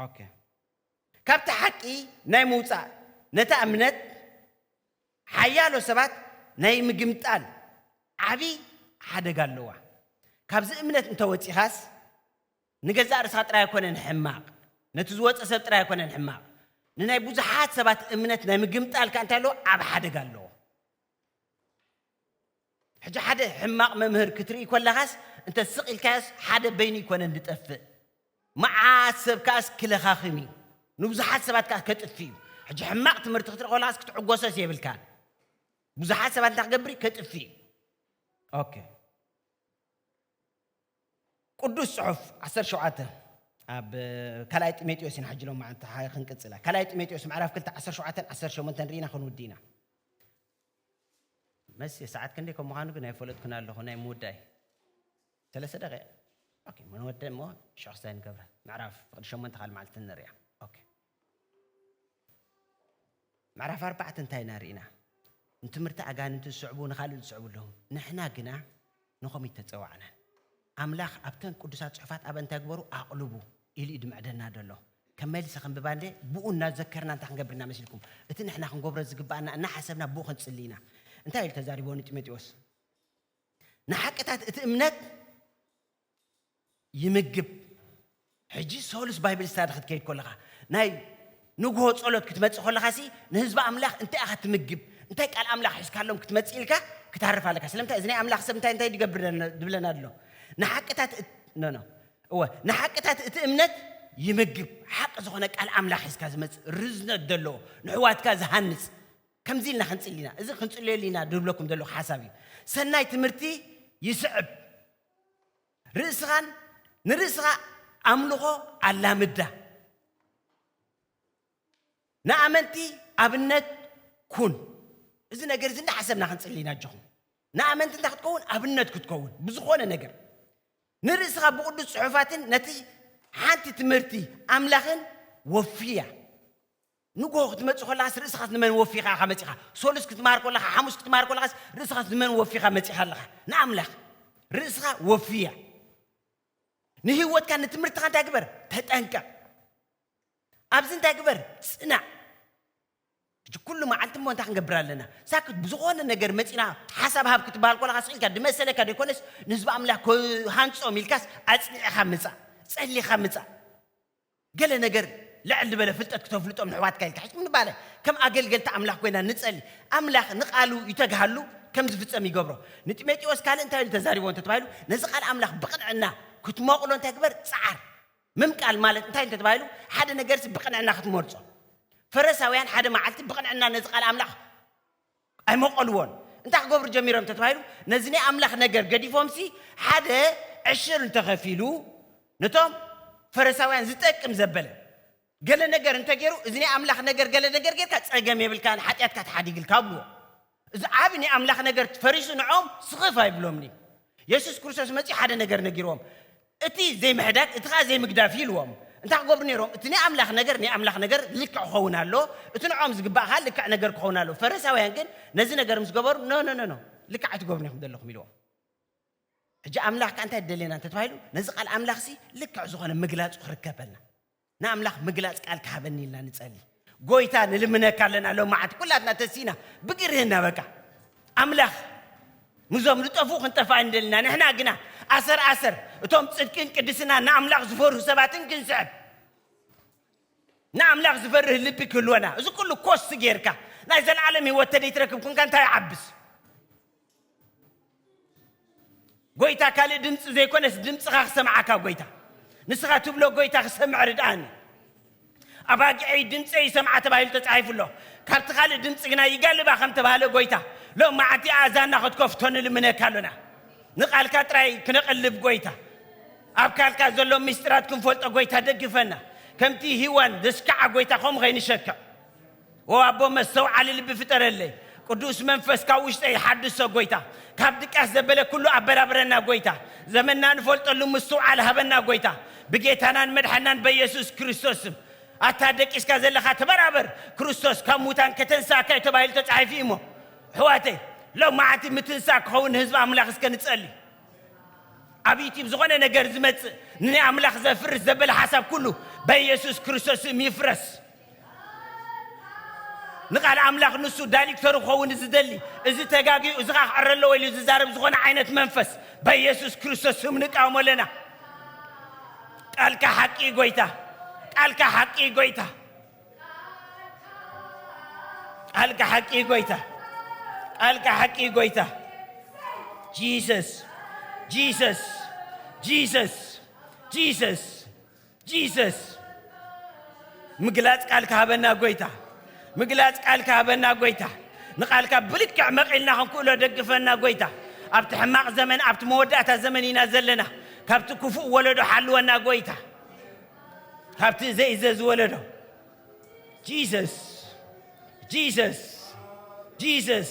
ኦኬ ካብቲ ሓቂ ናይ ምውጻእ ነታ እምነት ሓያሎ ሰባት ናይ ምግምጣል ዓቢ ሓደጋ ኣለዋ ካብዚ እምነት እንተ ወጺኻስ ንገዛእ ርእስኻ ጥራይ ኣይኮነን ሕማቕ ነቲ ዝወጸ ሰብ ጥራይ ኣይኮነን ሕማቕ ንናይ ብዙሓት ሰባት እምነት ናይ ምግምጣል ከኣ እንታይ ኣለዎ ዓቢ ሓደጋ ኣለዎ ሕጂ ሓደ ሕማቕ መምህር ክትርኢ ኮለኻስ እንተ ስቕ ኢልካዮስ ሓደ በይኑ ኣይኮነን ዝጠፍእ መዓት ሰብ ከኣስ ክለኻኽም እዩ ንብዙሓት ሰባት ከኣ ከጥፍእ እዩ ሕጂ ሕማቕ ትምህርቲ ክትርኢ ኮለኻስ ክትዕጎሰስ የብልካን ብዙሓት ሰባት እንታይ ክገብር እዩ ከጥፍእ እዩ ኦኬ ቅዱስ ጽሑፍ 17 ኣብ ካልኣይ ጢሞቴዎስ ኢና ሕጂ ሎም መዓልቲ ክንቅጽላ ካልኣይ ጢሞቴዎስ ምዕራፍ 2 17 18 ርኢና ክንውዲ ኢና መሲ ሰዓት ክንደይ ከም ምዃኑ ግን ኣይፈለጥኩን ኣለኹ ናይ ምውዳይ ሰለስተ ደቂቅ ኦኬ እሞ ንወደ እሞ ሽዑ ክስታይ ንገብራ ምዕራፍ ፍቅዲ ሸሞንተ ካልእ መዓልቲ ንርእያ ኦኬ ምዕራፍ ኣርባዕተ እንታይ ኢና ርኢና ንትምህርቲ ኣጋንንቲ ዝስዕቡ ንኻልእ ዝስዕቡ ኣለዉ ንሕና ግና ንኸምኡ ተጸዋዕናን ኣምላኽ ኣብተን ቅዱሳት ጽሑፋት ኣብ እንታይ ግበሩ ኣቕልቡ ኢሉ እዩ ድምዕደና ደሎ። ከም መልሲ ከንብባ እንዴ ብኡ እናዘከርና እንታይ ክንገብር ኢና መሲልኩም? እቲ ንሕና ክንገብሮ ዝግብኣና እናሓሰብና ብኡ ክንጽሊ ኢና። እንታይ ኢሉ ተዛሪብዎ ንጢሞጢዎስ? ንሓቅታት እቲ እምነት ይምግብ። ሕጂ ሰሉስ ባይብል ስታዲ ክትከይድ ከለኻ ናይ ንግሆ ጸሎት ክትመጽእ ከለኻሲ ንህዝቢ ኣምላኽ እንታይ ኢኻ ትምግብ እንታይ ቃል ኣምላኽ ሒዝካሎም ክትመጽእ ኢልካ ክትሃርፍ ኣለካ ስለምንታይ እዚ ናይ ኣምላኽ ሰብ እንታይ እንታይ ድገብር ድብለና ኣሎ ንሓቅታት ኖ ኖ እወ ንሓቅታት እቲ እምነት ይምግብ ሓቂ ዝኾነ ቃል ኣምላኽ ሒዝካ ዝመጽእ ርዝነት ዘለዎ ንሕዋትካ ዝሃንጽ ከምዚ ኢልና ክንጽሊ ኢና እዚ ክንጽልየሉ ኢና ድብለኩም ዘለኹ ሓሳብ እዩ ሰናይ ትምህርቲ ይስዕብ ርእስኻን ንርእስኻ ኣምልኾ ኣላምዳ። ንኣመንቲ ኣብነት ኩን። እዚ ነገር እዚ እናሓሰብና ክንጽሊ ኢና ኣጆኹም። ንኣመንቲ እንታይ ክትከውን ኣብነት ክትከውን ብዝኾነ ነገር ንርእስኻ ብቅዱስ ጽሑፋትን ነቲ ሓንቲ ትምህርቲ ኣምላኽን ወፍያ። ንግሆ ክትመጽእ ከለኻስ ርእስኻስ ንመን ወፊኻ ኢኻ መጺኻ? ሰሉስ ክትመሃር ከለኻ፣ ሓሙስ ክትመሃር ከለኻስ ርእስኻስ ንመን ወፊኻ መጺኻ ኣለኻ? ንኣምላኽ ርእስኻ ወፍያ። ንህይወትካን ንትምህርትኻ እንታይ ግበር? ተጠንቀቕ። ኣብዚ እንታይ ግበር? ጽናዕ። ሕጂ ኩሉ መዓልቲ እሞ እንታይ ክንገብር ኣለና? ሳክት ብዝኾነ ነገር መጺና ሓሳብ ሃብ ክትበሃል ከለኻ ስቕ ኢልካ ድመሰለካ ደይኮነስ ንህዝቢ ኣምላኽ ክሃንጾም ኢልካስ ኣጽኒዕኻ ምጻእ፣ ጸሊኻ ምጻእ። ገለ ነገር ልዕል ልበለ ፍልጠት ክተፍልጦም ንሕዋትካ ኢልካ ሕጂ ምባለ ከም ኣገልገልቲ ኣምላኽ ኮይና ንጸሊ ኣምላኽ ንቃሉ ይተግሃሉ ከም ዝፍጸም ይገብሮ ንጢሜጢዎስ ካልእ እንታይ ኢሉ ተዛሪብዎ እንተ ተባሂሉ ነዚ ቃል ኣምላኽ ብቅንዕና ክትሞቅሎ እንታይ ግበር ጸዓር ምምቃል ማለት እንታይ እንተ ተባሂሉ ሓደ ነገርሲ ብቅንዕና ክትመርጾ ፈረሳውያን ሓደ መዓልቲ ብቅንዕና ነዚ ቃል ኣምላኽ ኣይመቐልዎን። እንታይ ክገብሩ ጀሚሮም እንተ ተባሂሉ፣ ነዚ ናይ ኣምላኽ ነገር ገዲፎምሲ ሓደ ዕሽር እንተ ኸፊሉ፣ ነቶም ፈረሳውያን ዝጠቅም ዘበለ ገለ ነገር እንተ ገይሩ፣ እዚ ናይ ኣምላኽ ነገር ገለ ነገር ጌርካ ጸገም የብልካን፣ ሓጢኣትካ ተሓዲግልካ ኣብልዎ። እዚ ዓቢ ናይ ኣምላኽ ነገር ፈሪሱ ንዕኦም ስኽፍ ኣይብሎምን'ዩ። የሱስ ክርስቶስ መጺኡ ሓደ ነገር ነጊርዎም፣ እቲ ዘይምሕዳግ እቲ ከኣ ዘይምግዳፍ እዩ ኢልዎም። እንታይ ክገብሩ ነይሮም? እቲ ናይ ኣምላኽ ነገር ናይ ኣምላኽ ነገር ልክዕ ክኸውን ኣለዎ፣ እቲ ንዕኦም ዝግባእ ከኣ ልክዕ ነገር ክኸውን ኣለዎ። ፈረሳውያን ግን ነዚ ነገር ምስ ገበሩ ኖኖኖኖ ልክዕ ኣይትገብሩን ኢኹም ዘለኹም ኢልዎም። ሕጂ ኣምላኽ ከኣ እንታይ ደልየና እንተተባሂሉ ነዚ ቃል ኣምላኽሲ ልክዕ ዝኾነ ምግላጹ ክርከበልና። ንኣምላኽ ምግላጽ ቃል ክሃበኒ ኢልና ንጸሊ ጎይታ ንልምነካ ኣለና ሎማዓንቲ ኩላትና ተሲና ብግርህና በቃ ኣምላኽ ንዞም ዝጠፉ ክንጠፋ እንደልና ንሕና ግና ኣሰር ኣሰር እቶም ጽድቅን ቅድስና ንኣምላኽ ዝፈርሁ ሰባትን ክንስዕብ ንኣምላኽ ዝፈርህ ልቢ ክህልወና እዚ ኩሉ ኮስት ጌርካ ናይ ዘለዓለም ህይወት ተደይትረክብ ኩንካ እንታይ ይዓብስ ጎይታ ካልእ ድምፂ ዘይኮነስ ድምፅኻ ክሰምዓካ ጎይታ ንስኻ ትብሎ ጎይታ ክሰምዕ ርድኣኒ ኣባጊዐይ ድምፀ ይሰምዓ ተባሂሉ ተፃሒፉ ኣሎ ካብቲ ካልእ ድምፂ ግና ይጋልባ ከም ተባሃለ ጎይታ ሎም መዓልቲ ኣእዛና ክትከፍቶ ንልምነካ ኣሎና ንቃልካ ጥራይ ክነቐልብ ጎይታ ኣብ ካልካ ዘሎ ምስጢራት ክንፈልጦ ጎይታ ደግፈና ከምቲ ሂዋን ዘስከዓ ጎይታ ከምኡ ከይንሸክዕ ዎው ኣቦ መስተውዓሊ ልቢ ፍጠረለይ ቅዱስ መንፈስ ካብ ውሽጠይ ሓድሶ ጎይታ ካብ ድቃስ ዘበለ ኩሉ ኣበራብረና ጎይታ ዘመንና ንፈልጠሉ ምስትውዓል ሃበና ጎይታ ብጌታናን መድሓናን በየሱስ ክርስቶስ ስም ኣታ ደቂስካ ዘለካ ተበራበር ክርስቶስ ካብ ሙታን ከተንስኣካ እዩ ተባሂሉ ተጻሒፉ እዩ እሞ ኣሕዋተይ ሎማዓንቲ ምትንሳእ ክኸውን ንህዝቢ ኣምላኽ እስከ ንጸሊ ኣብ ዩቲብ ዝኾነ ነገር ዝመጽእ ንኣምላኽ ዘፍርስ ዘበለ ሓሳብ ኩሉ በየሱስ ክርስቶስ ስም ይፍረስ ንቃል ኣምላኽ ንሱ ዳይልክተሩ ክኸውን ዝደሊ እዚ ተጋግዩ እዚ ኸኣ ክዕረ ኣለዎ ኢሉ ዝዛረብ ዝኾነ ዓይነት መንፈስ በየሱስ ክርስቶስ ስም ንቃወሞ ኣለና። ቃልካ ሓቂ እዩ ጎይታ፣ ቃልካ ሓቂ እዩ ጎይታ፣ ቃልካ ሓቂ እዩ ጎይታ፣ ቃልካ ሓቂ እዩ ጎይታ። ጂሰስ ጂሰስ ጂሰስ ጂሰስ Jesus ምግላጽ ቃልካ ሃበና ጎይታ ምግላጽ ቃልካ ሃበና ጎይታ ንቃልካ ብልክዕ መቂልና ክንክእሎ ደግፈና ጎይታ ኣብቲ ሕማቅ ዘመን ኣብቲ መወዳእታ ዘመን ኢና ዘለና ካብቲ ክፉእ ወለዶ ሓልወና ጎይታ ካብቲ ዘይእዘዝ ወለዶ ጂሰስ ጂሰስ ጂሰስ